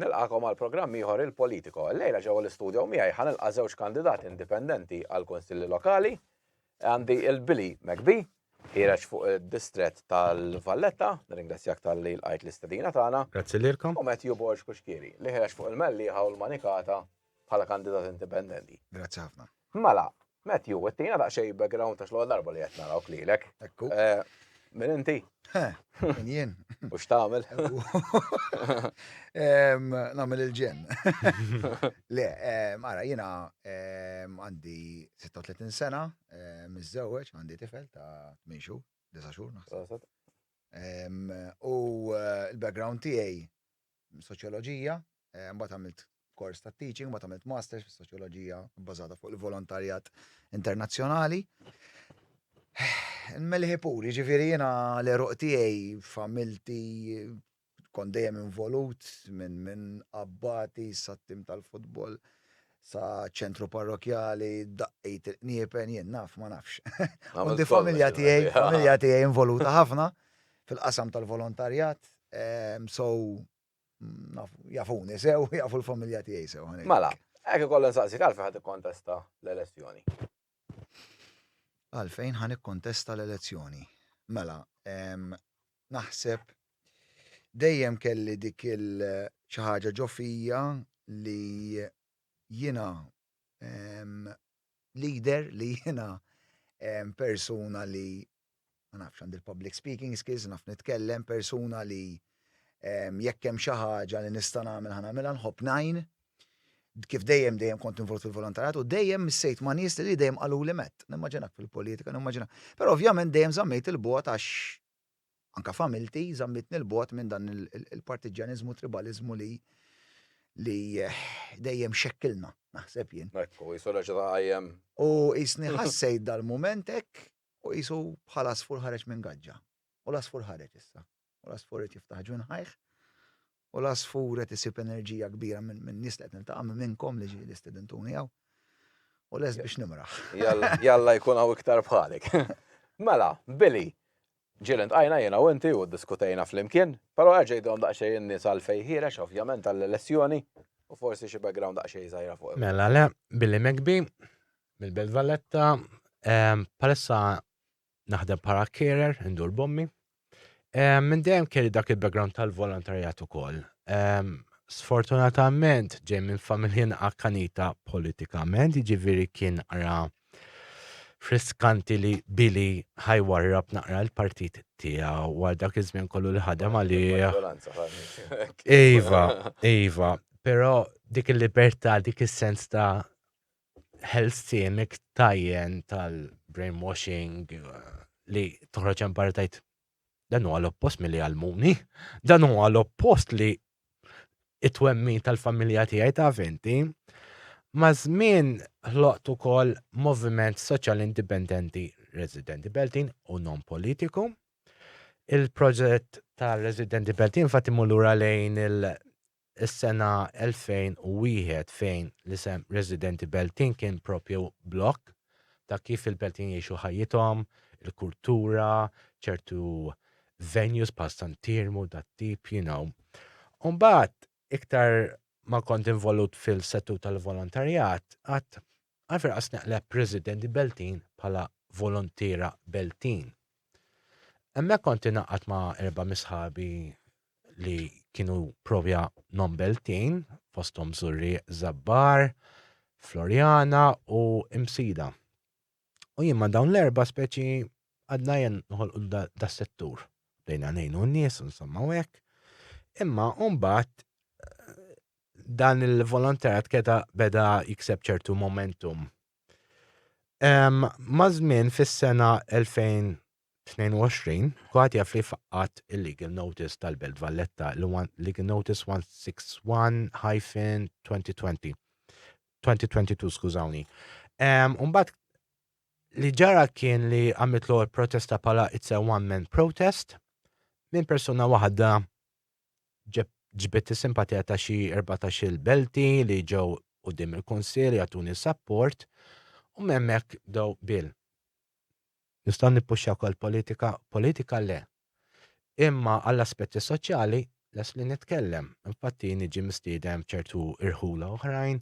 Nilqagħkom għal programm ieħor il-Politico. Illejla ġewwa l-istudjo miegħi ħa nilqa' żewġ kandidati indipendenti għall-Kunsilli Lokali. Għandi il-Billy McBee, ħiereġ fuq id-distrett tal-Valletta, nirringrazzjak talli lqajt l-istedina tagħna. Grazzi lilkom. U Matthew Borg Cuschieri, li ħiereġ fuq il-Mellieħa u l-Manikata bħala kandidat indipendenti. Grazzi ħafna. Mela, Matthew, għettina ta' xej background ta' xloħ darba li għet naraw klilek. Ekku. Eh, min inti? Min jien. U xtamil? Namil il-ġen. Le, mara, jina għandi 36 sena, mizzewċ, għandi tifel ta' 8 xur, 9 xur, naħseb. U eh, l-background tijaj soċjoloġija, mbagħad għamilt kors ta' teaching, mbagħad għamilt masters fis-soċjoloġija bbażata fuq il-volontarjat internazzjonali. Melħi pur, jiġifieri jiena l-eruq tiegħi familti kont dejjem involut minn min abbati sat-tim tal-futbol. Sa ċentru parrokjali, daqqiet il-qniepen, jien naf, ma nafx. U di familja tiegħi, familja tiegħi involuta ħafna fil-qasam tal-volontarjat, so jafuni sew, jafu l-familja tiegħi sew. Mela, hekk ikollha nsaqsik għalfejn ħadd ikkontesta l-elezzjoni. Għalfejn ħa nikkontesta l-elezzjoni? Mela, naħseb dejjem kelli dik il xi ħaġa ġo fija li jiena leader, li jiena persuna li ma nafx, għandi l-public speaking skills, naf nitkellem, persuna li jekk hemm xi ħaġa li nista' nagħmel ħa nagħmilha nħobb ngħin. Kif dejjem dejjem kont involut fil-volontarjat u dejjem missejt ma' nies li dejjem qalu li met, nimmaġinak fil-politika, nimmaġina. Però ovvjament dejjem żammejt il-bogħod għax anka familti żammitni l-bogħod minn dan il-partiġġjaniżmu tribaliżmu li li dejjem xekkilna, naħseb jien. U jisni ħassejt dal-mument hekk Hu qisu bħal għasfur ħareġ minn gaġġa. U l-għasfur ħareġ issa. U l-għasfur qed jiftaħ ġwinħajh. U l-għasfur qed isib enerġija kbira min-nies li qed niltaqa' minn minnkom li ġieli stedintuni hawn. U lest biex nimraħ. Jalla jkun hawn iktar bħalek. Mela, Billy, ġieli ltqajna jiena u inti u ddiskutejna flimkien, però erġa' għidilhom daqsxejn in-nies għalfejn ħiereġ, ovvjament għall-elezzjoni, u forsi xi background daqsxejn żgħira fuq. Mela le, Billy McBee, Mill-Belt Valletta, palissa naħdem para carer, indur bommi. Minn dejjem kelli dak il-background tal-volontarjat ukoll. Sfortunatament ġej minn familjen akkanita politikament, jiġifieri kien ara friskanti li Billy ħajwarrab naqra l-partit tiegħu għal dak iż-żmien kollu li ħadem għalih. Iva, iva, però dik il-libertà, dik is-sens ta' health timik tajjen tal-brainwashing li toħroġ hemm barra tajt dan huwa l-oppost milli għalmuni, dan huwa l-oppost li it-twemmin tal-familja tiegħi ta' venti. Ma' żmien ħloqt ukoll moviment soċjal indipendenti residenti Beltin u non politiku. Il-proġett tal-residenti Beltin fatt imur lura lejn il- is-sena 2001 fejn l-isem Residenti Beltin kien proprju blokk ta' kif il-Beltin jgħixu ħajjithom, il-kultura, ċertu venues bħal San Tirmu, dat-tip, you know. U mbagħad iktar ma kont involut fil-settur tal-volontarjat, għad Għalfejn qas neqleb residenti Beltin bħala volontiera Beltin? Hemmhekk kont ingħaqadt ma' erba' misħabi li kienu provja non Beltin, fosthom Żurrieq, Żabbar, Floriana u Imsida. U jien ma' dawn l-erba' speċi għadna jien noħolqu das-settur. Bdejna ngħinu n-nies, insomma u hekk. Imma mbagħad dan il-volontarat keda beda jikseb ċertu momentum. Mażmin fis-sena 2022, kuħat jaf li faqqat il-legal notice tal-Belt Valletta, legal notice 161-2020. 2022, skużawni. Umbat li ġara kien li għamiltlu protesta pala it's a one-man protest minn persuna waħda ġbidt is-simpatija ta' xi erbatax-il Belti li ġew quddiem il-Kunsill jagħtuni s-sapport u m'hemmhekk bdew bil. Nistgħu nippuxxjaw ukoll politika? Politika le. Imma għall-aspetti soċjali lest li nitkellem. Infatti niġi mistieden f'ċertu irħula oħrajn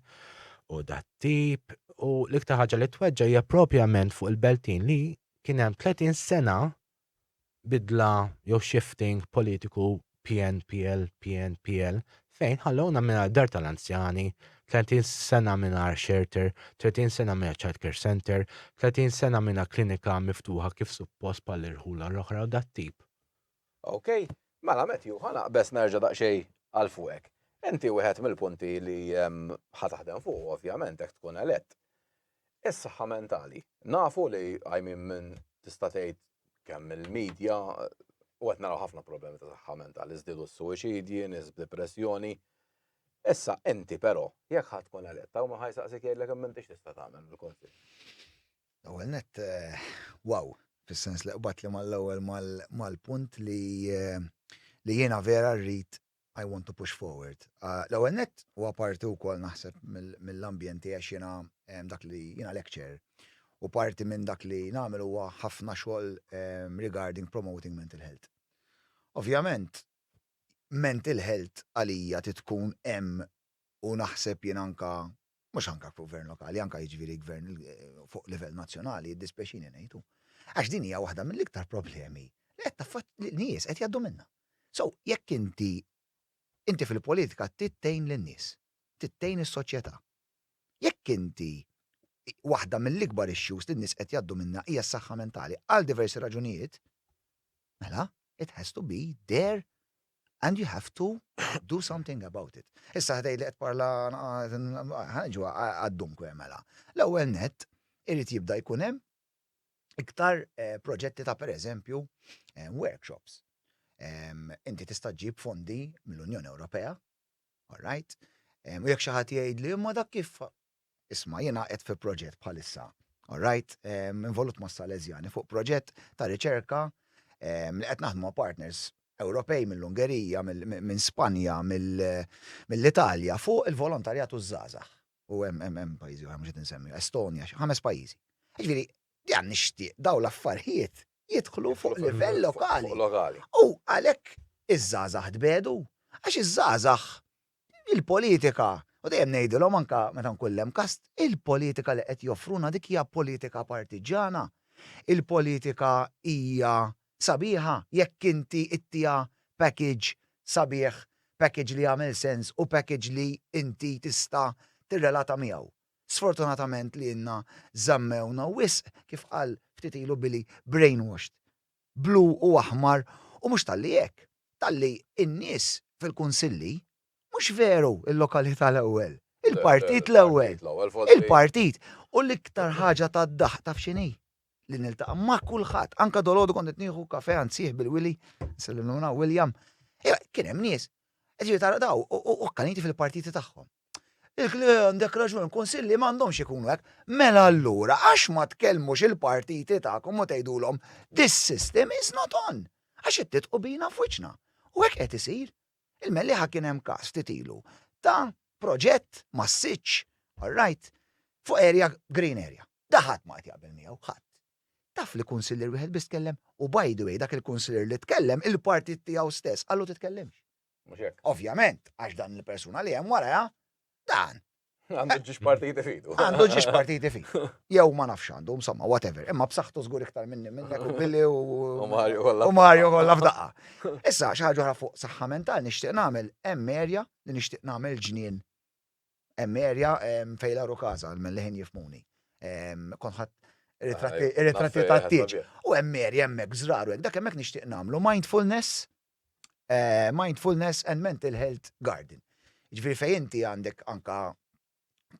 u dat-tip u l-iktar ħaġa li tweġġa' hija propjament fuq il-Beltin li kien hemm 30 sena bidla jew shifting politiku PNPL, PNPL, fejn ħallewna mingħajr dar tal-anzjani, 30 sena mingħajr shelter, 30 sena mingħajr childcare centre, 30 sena mingħajr klinika miftuħa kif suppost bħall-irħula l-oħra u dat-tip. Ok, mela Matthew, ħa naqbeż nerġa' daqsxejn għal fuqek. Inti wieħed mill-punti li ħa taħdem fuqu ovvjament jekk tkun elett, Is-saħħa mentali. Nafu li qajmin minn tista' tgħid kemm il-media u qed naraw ħafna problemi ta' saħħa mentali, żdiedu s-suwiċidji, nies b'dipressjoni. Issa inti però, jekk ħadd tkun elett, hawn min ħajsaqsik jgħidlek imma inti x'tista' tagħmel mill-Kunsill? L-ewwel nett, wow, fis-sens li qbadt li mal-ewwel mal-punt li jiena vera rrid I want to push forward. L-ewwel nett, u apparti wkoll naħseb mill-ambjent tiegħi għax jiena dak li, jiena lecturer, u parti minn dak li nagħmel huwa ħafna xogħol regarding promoting mental health. Ovvjament, mental health għalija trid tkun hemm u naħseb jien anke mhux anke fuq gvern lokali, anke jiġifieri gvern fuq livell nazzjonali, jiddispjaċini ngħid hu. Għax din hija waħda mill-iktar problemi li qed taffaċ li nies qed jgħaddu minnha. So, jekk inti inti fil-politika trid tgħin lin-nies, trid tgħin is-soċjetà. Jekk inti waħda mill-ikbar issues li n-nies qed jgħaddu minnha hija s-saħħa mentali għal diversi raġunijiet, mela it has to be there and you have to do something about it. Issa ħdej li qed parla ħanġu għad-dunkwe mela. L-ewwel net irid jibda jkun hemm iktar eh, proġetti ta' pereżempju eh, workshops. Inti tista' ġib fondi mill-Unjoni Ewropea, all right? U jekk xi ħadd jgħid li imma dak kif Isma' jiena qiegħed fi proġett bħalissa, alright, involut mas-Salesjani fuq proġett ta' riċerka li qed naħdmu ma' partners Ewropej mill-Ungerija, minn Spanja, mill-Italja fuq il-volontarjat u ż-żgħażagħ. U hemm hemm pajjiżi oħra mhux qed insemmihom, Estonia, xi ħames pajjiżi. Jiġifieri, jiena nixtieq dawn l-affarijiet jidħlu fuq livell lokali. U għalhekk iż-żgħażagħ tbiegħdu, għax iż-żgħażagħ Il-politika, u dejjem ngħidilhom anke meta nkun l-hemm kast, il-politika li qed joffruna dik hija politika partiġġjana. Il-politika hija sabiħa jekk inti ittiha package sabiħ, package li jagħmel sens u package li inti tista' tirrelata miegħu. Sfortunatament lilna żammewna wisq, kif qal ftit ilu Billy, brainwashed. blu u aħmar u mhux talli hekk, talli n-nies fil-kunsilli, mhux veru l-lokalità l-ewwel, il-partit l-ewwel, il-partit! U l-iktar ħaġa tad-daħq taf x'inhi? Li niltaqa' ma' kulħadd, anke dalgħodu kont qed nieħu kafè għand sieħbi l-Wili, nsellimlu minn hawn William, kien hemm nies, ġifieri tara dawn u kkaniti fil-partiti tagħhom. Għandek raġun, kunsilli m'għandhomx ikunu hekk. Mela allura għax ma tkellmux il-partiti tagħkom u tgħidulhom this system is not on. Għax qed titqu bina f'wiċċna. U hekk qed isir. Il-Mellieħa kien hemm każ ftit ilu ta' proġett massiċċ, all right, fuq area green area. Da ħadd ma qed jaqbel miegħu, ħadd. Taf li kunsillier wieħed biss tkellem u by the way dak il-kunsillier li tkellem il-partit tiegħu stess qallu titkellimx. Mhux hekk? Ovvjament, għax dan il-persuna li hemm waraha dan. Għandu ġiex partiti fidu. Għandu ġiex partiti fidu. Jew ma nafx għandu, insomma, whatever. Imma b'saħħtu żgur iktar minni minnek u billi u. U Mario kollha. U Mario kollha f'daqqa. Issa, xi ħaġa fuq saħħa mentali nixtieq nagħmel hemm erja li nixtieq nagħmel ġnien. Hemm erja fejn l kaza, minn leħin jifmuni. Konħat ritratti ta' tiġ. U hemm erja hemmhekk żraru, dak hemmhekk nixtieq nagħmlu mindfulness Mindfulness and Mental Health Garden. Ġifieri fejn inti għandek anka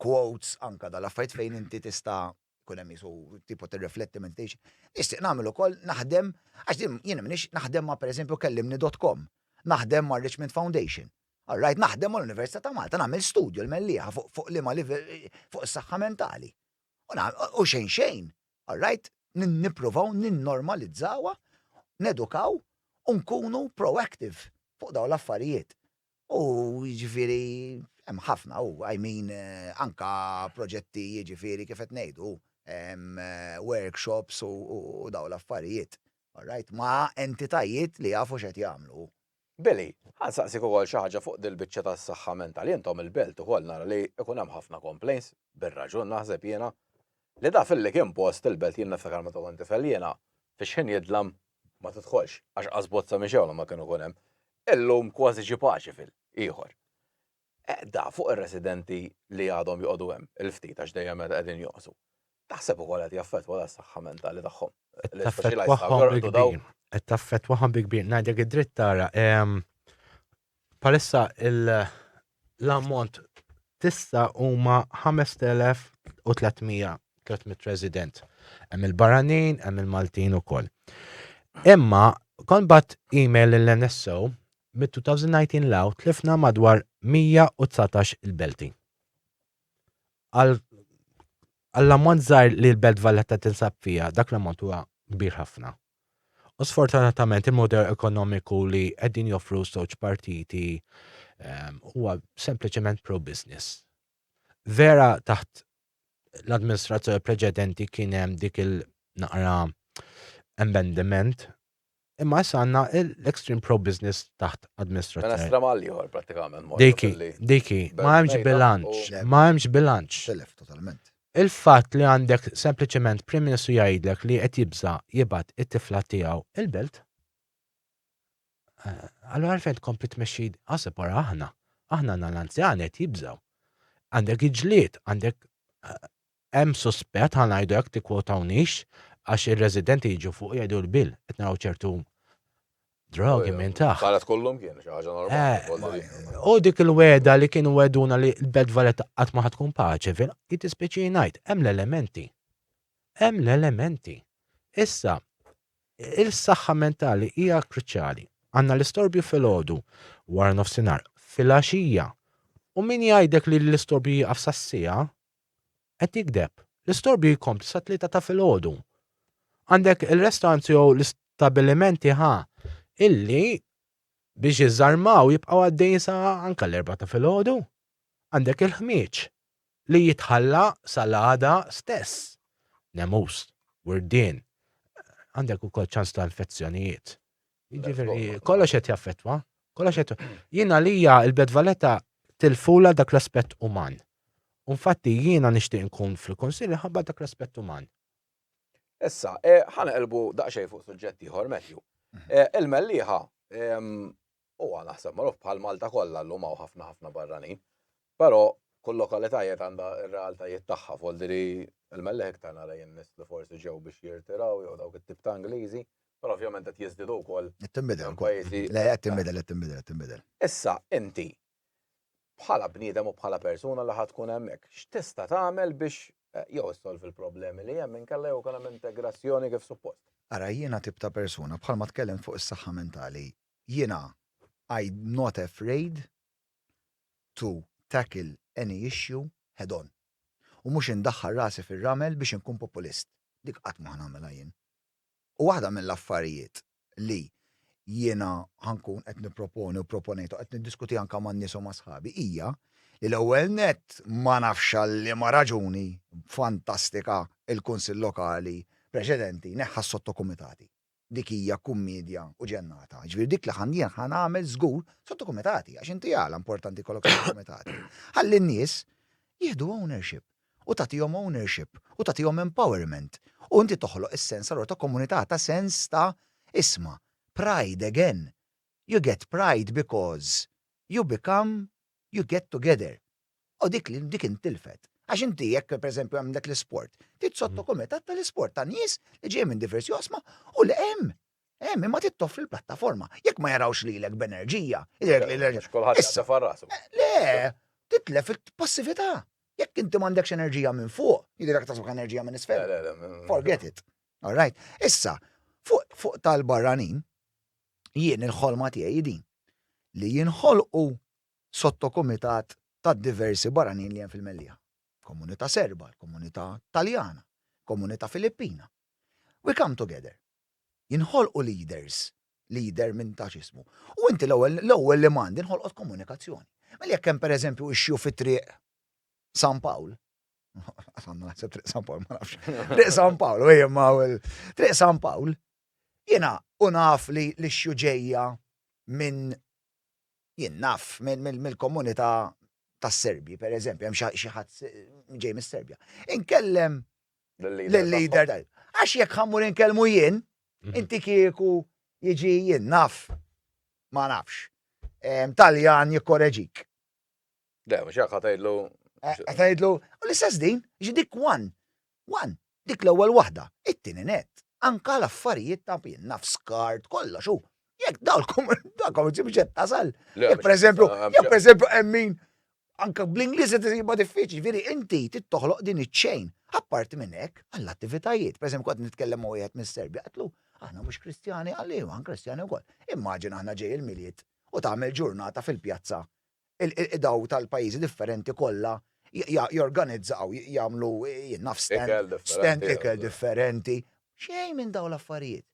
quotes, anka dal-affajt fejn inti tista' kun hemm jisu tipo tirrifletti meditation. Nixtieq nagħmel ukoll naħdem għax din jien minix naħdem ma' pereżempju kellimni.com, naħdem ma' Richmond Foundation. All right, naħdem mal-Università ta' Malta, nagħmel studju l-mellieħa fuq liema livell fuq is-saħħa mentali. U xejn xejn, All right? Nippruvaw ninnormalizzawha, nedukaw u nkunu proactive fuq dawn l-affarijiet. U jiġifieri hemm ħafna u I mean anke proġetti jiġifieri kif qed ngħidu, workshops u dawn l-affarijiet, all right, ma' entitajiet li jafu x'qed jagħmlu. Billy, ħa nsaqsik ukoll xi ħaġa fuq dil-biċċa tas-saħħa mentali, intom il-belt ukoll nara li ikun hemm ħafna complaints, bir-raġun naħseb jiena, li da filli kien post il-belt jien niftakar meta kont tifel jiena fix-xħin jidlam, ma tidħolx għax qas bozza mixewla ma kienu jkun hemm, illum kważi ġie paċi fil, ieħor. Għedha fuq ir-residenti li għadhom joqogħdu hemm, il-ftit għax dejjem qegħdin jonqsu, taħseb ukoll qed jaffettwa s-saħħa mentali tagħhom? Qed taffettwahom bi kbir. Qed taffettwahom bi kbir. Ngħidlek id-dritt tara, bħalissa l-ammont tista' huma 5,300 300 resident. Hemm il-barranin, hemm il-Maltin ukoll. Imma kont bat email lill-NSO Mid-2019 'l hawn tlifna madwar 119 il-belti. Għall-ammont żgħir li l-Belt Valletta tinsab fiha, dak l-ammont huwa kbir ħafna. U sfortunatament il-mudell ekonomiku li qegħdin joffru ż-żewġ partiti huwa sempliċement pro-business. Vera taħt l-amministrazzjoni preċedenti kien hemm dik il-naqra amendment Imma issa għandna l-extreme pro-business taħt Administrazzjoni. Mela stramal ieħor prattikament morru Dik hi, filli dik hi. Ma belt hemmx mejda bilanċ, u Le, ma hemmx bilanċ. telef totalment. Il-fatt li għandek sempliċement Prim Ministru jgħidlek li qed jibża' jibgħat it-tifla tiegħu il-belt, allura għalfejn tkompli tmexxi ħaseb wara aħna. Aħna għandna l-anzjani qed jibżgħu. Għandek il-ġlied, għandek Hemm suspett, ħa ngħidu hekk, tikkwotawniex, għax ir-residenti jiġu fuq u jgħidu l-bill, qed naraw ċertu drogi minn taħt. Kienet kollhom kien, xi ħaġa normali. Eh, u dik il-weda li kienu weduna li l-Belt Valletta qatt ma tkun paċe, vera, jitispeċi ngħid, hemm l-elementi. Hemm l-elementi. Issa, il-saħħa mentali hija kruċjali. Għandna l-istorbju fil-ħodu, wara nofsinhar, fil-għaxija. U min jgħidek li l-istorbju jieqaf sassija, Qed jigdeb. L-istorbju jkompli sat-tlieta ta' filgħodu. Għandek il-restaurants jew l-istabbilimenti ħa illi biex jiżarmaw jibqgħu għaddejjin sa anke l-erbgħa ta' filgħodu. Għandek il-ħmieġ li jitħalla sal-għada stess. Nemus, Wirdien, għandek ukoll ċans ta' infezzjonijiet. Jiġifieri kollox qed jaffettwa, kollox qed jien għalija il-Belt Valletta tilfula dak l-aspett uman. U infatti jiena nixtieq nkun fil-Kunsill minħabba dak l-aspett uman. Issa, eh, ħa neqilbu daqsxejn fuq suġġett ieħor, Matthew. Eh, il-Mellieħa ehm, huwa naħseb magħruf bħal Malta kollha llum hawn ħafna ħafna barranin. Però kull lokalità jgħid għandha r-realtajiet tagħha, Voldiri l-mellieħ iktar nara jien nies li forsi ġew biex jirtiraw jew dawk it-tip ta' Ingliżi, però ovvjament qed jiżdiedu wkoll minn pajjiżi iktar. Le, qed tinbidel, qed tinbidel, qed tinbidel. Issa, inti, bħala bniedem u bħala persuna li ħa tkun hemmhekk, x'tista' tagħmel biex jew issolvi l-problemi li hemm inkella jew ikun hemm integrazzjoni kif suppost? Ara, jiena tip ta' persuna, bħalma tkellimt fuq is-saħħa mentali, jiena I'm not afraid to tackle any issue head on u mhux indaħħal rasi fir-ramel biex inkun populist. Dik qatt ma ħa nagħmilha jien. U waħda mill-affarijiet li jiena ħa nkun qed nipproponi u proponejtha u qed niddiskuti anke man-nies u ma' sħabi hija li l-ewwel nett ma nafx għal liema raġuni fantastika l-Kunsill Lokali preċedenti neħħa s-sottokumitati. dik hija kummiedja u ġennata. Jiġifieri dik li ħa jien ħa nagħmel żgur sottokumitati, għax inti għala importanti jkollok sottokumitati? Ħalli n-nies jieħdu ownership u tagħtihom ownership u tagħtihom empowerment u inti toħloq is-sens allura ta' komunità, ta' sens ta' isma', pride again. You get pride because you become, you get together. u dik li dik intilfet. Għax inti jekk pereżempju hemm dak l-isport, trid sotto kumitat tal-isport ta' nies li ġej minn diversi oqsma u li hemm hemm imma trid toffri l-plattaforma. Jekk ma jarawx lilek b'enerġija, issa farrasu. Eh, le, titlef il-passività. Jekk inti m'għandekx enerġija minn fuq, jidhirek tasbek enerġija minn isfel. Forget it. All right. Issa, fuq tal-barranin, jien il-ħolma tiegħi din li jinħolqu sottokumitat tad-diversi barranin li hemm fil-Mellieħa, komunità Serba, il-komunità Taljana, komunità Filippina. We come together. Jinħolqu leaders, leader minn tafx ismu. U inti l-ewwel, l-ewwel li m'għandi nħolqot komunikazzjoni. Mela jekk hemm pereżempju issue fi Triq San Pawl, qatt għandna naħseb Triq San Pawl ma nafx, Triq San Pawl, u ejjem ma' Triq San Pawl, jiena u naf li l-issue ġejja minn Jien naf mill-komunità tas-Serbi, per eżempju, hemm xi ħadd ġej mis-Serbja. Inkellem lill-leader tagħhom. Għax jekk ħa mmur inkellmu jien, inti kieku jiġi jien naf, ma nafx, Taljan jikkoreġik. Le, mhux hekk ħatajdlu. Ħatajdlu, eh, u l-istess din, ġi dik one, one, dik l-ewwel waħda, it-tieni net, anka l-affarijiet ta' pin, naf skart, kollox u. Jekk dawkom, dawkom ġibġet tasal. Jekk per eżempju, jekk per eżempju emmin, anka bl-Ingliż qed isiba diffiċli, veri inti tittoħloq din iċ-ċejn. Apparti minn hekk, għall-attivitajiet, per eżempju, kont nitkellem ma' wieħed mis-Serbja, qatlu, aħna mhux Kristjani għalli, għan Kristjani wkoll. Immaġin aħna ġej il-miliet u tagħmel ġurnata fil-pjazza. Il-qdaw tal-pajjiżi differenti kollha jorganizzaw, jagħmlu, jien naf, stand, stand ikel differenti. Xejn minn dawn l-affarijiet.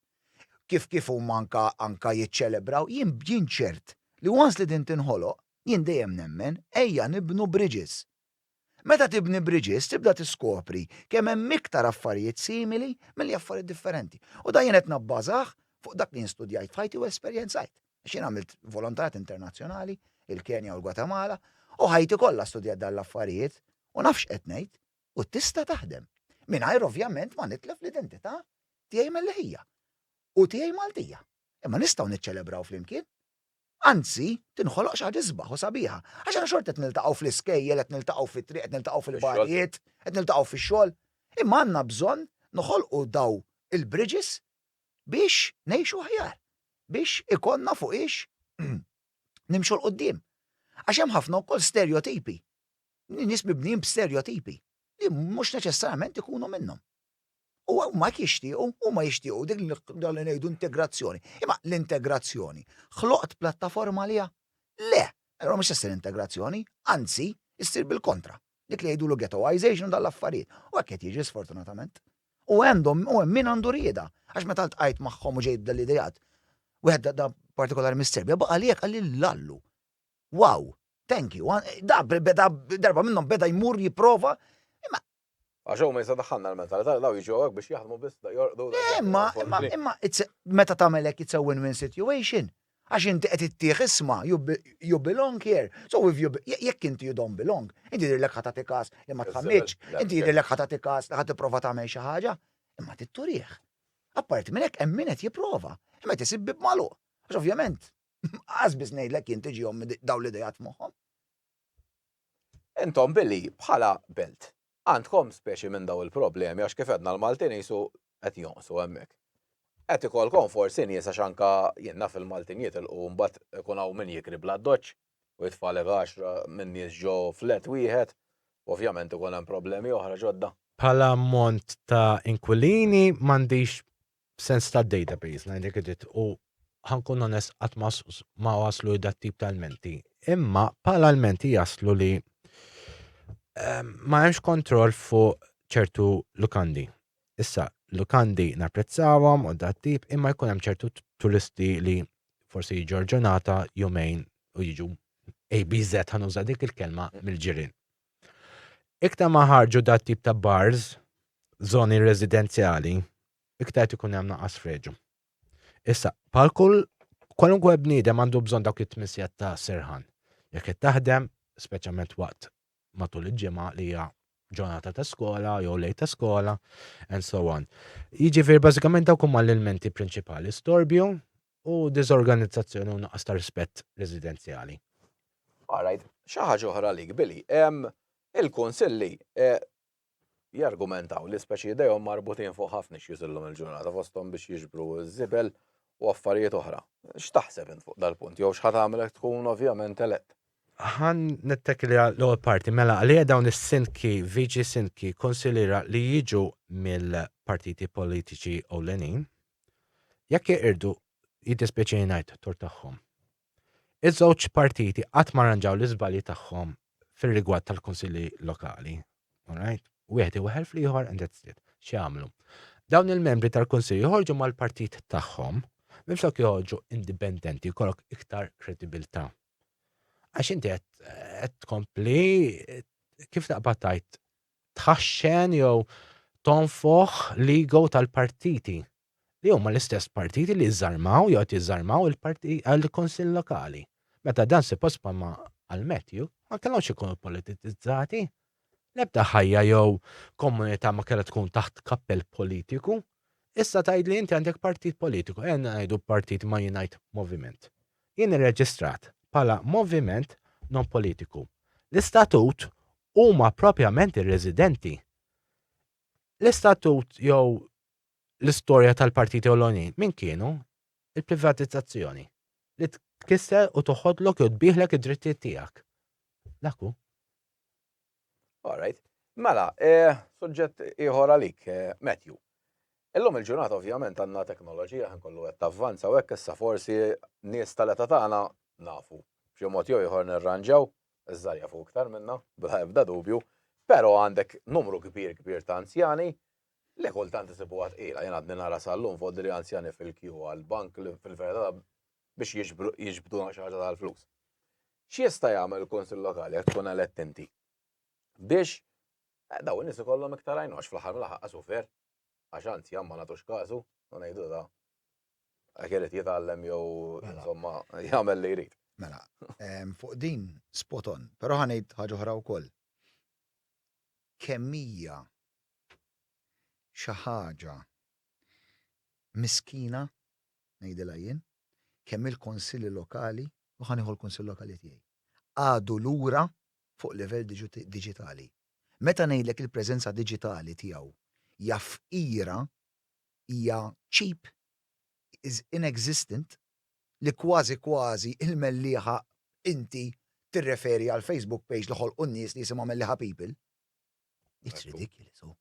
Kif kif huma anka anka jiċċelebraw, jien jien ċert li once li din tinħoloq, jien dejjem nemmen, ejja nibnu bridges. Meta tibni bridges tibda tiskopri kemm hemm iktar affarijiet simili milli affarijiet differenti. U dan jien qed nabbażah fuq dak li jien studjajt f'ħajti u esperjenzajt. Għax jien għamilt volontarjat internazzjonali, il-Kenja u l-Gwatemala, u ħajti kollha studjajt dawn l-affarijiet u naf x'qed ngħid u tista' taħdem. Mingħajr ovvjament ma nitlef l-identità tiegħi Mellieħija u tiegħi Maltija. Imma nistgħu niċċelebraw flimkien. Anzi, tinħoloq xi ħaġa isbaħ u sabiħa. Għax aħna xorta qed niltaqgħu fl-iskejjel, qed niltaqgħu fit-triq, qed niltaqgħu fil-bagħrijiet, qed niltaqgħu fix-xogħol. Imma għandna bżonn noħolqu dawn il-bridges biex ngħixu aħjar, biex ikollna fuqiex nimxu 'l quddiem. Għax hemm ħafna wkoll sterjotipi, nies mibnijin b'sterjotipi li mhux neċessarjament ikunu minnhom. U huma jixtiequ, huma jixtiequ dik dan li ngħidu integrazzjoni. Imma l-integrazzjoni ħloqt plattaforma għaliha? Le! Allura mhux se ssir integrazzjoni, anzi, issir bil-kontra. Dik li jgħidulu ghettoization u dan l-affarijiet. U hekk qed jiġri sfortunatament. U għandhom, u hemm min għandu rieda. Għax meta ltqajt magħhom u ġejt dal-ideat, wieħed da partikolari mis-Serbja baqa' li hekk qalli l-Allu. Wow! Thank you. Da darba minnhom beda jmur jipprova, imma Għax hawn minn se daħħalna l-mentalità li daw jiġu hawnhekk biex jaħdmu biss da jorqdu da. Imma imma imma meta tagħmel hekk it's a win-win situation. Għax inti qed ittih isma' you belong here. So if you jekk inti you don't belong, inti jidhirlek ħa tagħti każ li ma tħammitx, inti jidhirlek ħa tagħti każ li ħa tipprova tagħmel xi ħaġa, imma trid turih. Apparti minn hekk hemm min qed jipprova, hemm qed isib bieb magħluq. Għax ovvjament, qas biss ngħidlek jien tiġihom dawn l-idejat f'moħħhom. Intom billi, bħala belt, għandkom speċi minn dawn il-problemi għax kif għedna l-Maltin qisu qed jonqsu hemmhekk. Qed ikollkom forsi nies għax anke jien naf il-Maltin jitilqu u mbagħad ikun hawn min jikri bla doċċ u jitfagħlek għaxra minn nies ġo flat wieħed u ovvjament ikun hemm problemi oħra ġodda. Bħala ammont ta' inkwilini m'għandix B'sens ta' database ngħidlek id-dritt u ħa nkun onest qatt ma waslu li dat-tip ta' lmenti. Imma bħala lmenti jaslu li ehm, ma hemmx kontroll fuq ċertu lukandi. Issa, lukandi napprezzawhom u dat tip imma jkun hemm ċertu turisti li forsi jiġu ġurnata jumejn u jiġu ABZ ħanuża dik il-kelma mill-ġirien. Iktar ma ħarġu dat tip ta' bars f'żoni residenzjali, iktar qed ikun hemm naqas freġu. Issa, bħal kull kwalunkwe bniedem għandu bżonn dawk it-tmien sigħat ta' serħan. Jekk qed taħdem, speċjalment waqt matul il-ġimgħa li hija ġurnata ta' skola jew lejl ta' skola and so on. Jiġifieri bażikament dawk huma l-ilmenti prinċipali, storbju u diżorganizzazzjoni u nuqqas ta' rispett residenzjali. All right. Xi ħaġa oħra għalik, Billy. Il-Kunsilli jargumentaw li speċi idejhom marbutin fuq ħafna issues illum il-ġurnata fosthom biex jiġbru ż-żibel u affarijiet oħra. X'taħseb int fuq dal-punt jew x'ħa tagħmilek tkun ovvjament elett? Ħa nittekkilja l-ewwel parti. Mela għalija dawn is-sindki, viċi sindki, kunsiliera li jiġu mill-partiti politiċi ewlenin, Jekk jeqirdu, jiddispjaċini ngħid, tort tagħhom. Iż-żewġ partiti qatt ma rranġaw l-iżbalji tagħhom fir-rigward tal-kunsilli lokali. All right? Wieħed iweħel fl-ieħor and that's it. X'jagħmlu? Dawn il-membri tal-kunsill joħorġu mal-partit tagħhom minflok joħorġu indipendenti jkollok iktar kredibilità. Għax inti qed tkompli kif taqbad tajt tħaxxen jew tonfoħ l-ego tal-partiti li huma l-istess partiti li żżarmaw jew qed jiżżarmaw il-Kunsill Lokali. Meta dan suppost bħalma qal Matthew ma kellhomx ikunu politizzati. L-ebda ħajja jew komunità ma kellha tkun taħt kappell politiku. Issa tgħidli inti għandek partit politiku, ejja ngħidu partit ma jingħid moviment. Jien irreġistrat bħala moviment nonpolitiku. L-istatut huma propjament ir-residenti. L-istatut jew l-istorja tal-partiti ewlenin minn kienu? Il-privatizzazzjoni li tkisser u toħodlok jew tbiegħlek id-drittijiet tiegħek. Dak hu. All right. Mela, eh, suġġett ieħor għalik, eh, Matthew. Illum il-ġurnata ovvjament għandna teknoloġija ħin kollu qed tavvanza u hekk issa forsi nies tal-età tagħna nafu. B'xi mod jew ieħor nirranġaw, iż-żgħar jafu iktar minna, bla ebda dubju, però għandek numru kbir kbir ta' anzjani li kultant isibuha tqila. Jien għadni nara sal-lum fodri anzjani fil-kju għall-bank li fil-verità biex jiġbduna xi ħaġa tal-flus. X'jista' jagħmel il-Kunsill Lokali jekk tkun elett inti? Biex eh, daw in-nies ikollhom iktar għajnu għax fl-aħħar mill-aħħar qasu fer. Għax anzi jamma nagħtux każu, u ngħidu da. Għak irid jitgħallem jew mela. insomma jagħmel li jrid. Mela, fuq din spot on, però ħanejt ħaġa oħra wkoll. Kemmija xi ħaġa miskina ngħidilha jien, kemm hi l-Kunsilli Lokali, u ħa nieħu l-Kunsill Lokali tiegħi, għadu lura fuq livell diġitali. Meta ngħidlek il-preżenza diġitali tiegħu hija fqira, hija cheap, is inexistent, li kważi kważi l-mellieħa inti tirreferi għall-Facebook page li ħolqu n-nies li jisimha Mellieħa People. It's ridiculous, oh.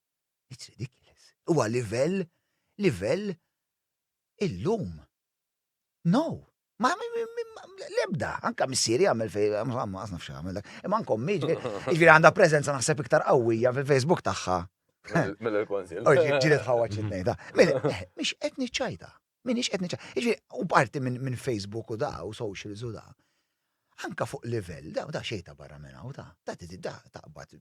It's ridiculous. Huwa livell, livell Illum. No! Ma l-ebda, anka missieri għamil fej, ma nafx għamil dak. Imma nkom miġi, ġviri għanda prezenza naħseb iktar qawwija fil-Facebook tagħha. Mill-konsil. Ġiri tħawwa ċitnejda. Mela, eh, miex qed niċċajta. Minix qed niċċajta. Ġviri, u parti minn Facebook u da, u socials u da. Anka fuq livell, da, da xejta barra minna u da. Da, da, taqbad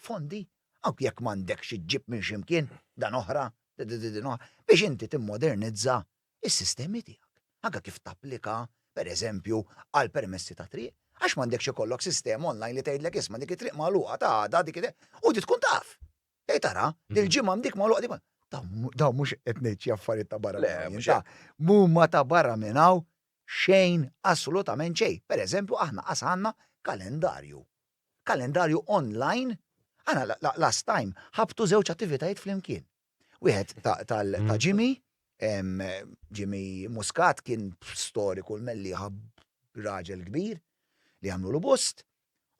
Fondi, anki jekk m'għandekx iġġib minn xi mkien, dan oħra, din oħra, biex inti timmodernizza s-sistemi tiegħek. Anke kif tapplika, per eżempju, għal permessi ta' triq, għax m'għandekx ikollok sistema online li tgħidlek isma' dik it-triq magħluqa ta' għada, dik it-, u inti tkun taf. Tgħid ara, dil-ġimgħa hemm dik magħluqa, dik magħluqa. Dawn mhux qed ngħid xi affarijiet ta' barra minn hawn jien. Mhuma ta' barra minn hawn xejn, assolutament xejn. Per eżempju, aħna qas għandna kalendarju. F'kalendarju onlajn, aħna last time ħabtu żewġ attivitajiet flimkien. Wieħed ta' Jimmy, Jimmy Muscat kien storiku l-mellieħa raġel kbir li għamlulu bust,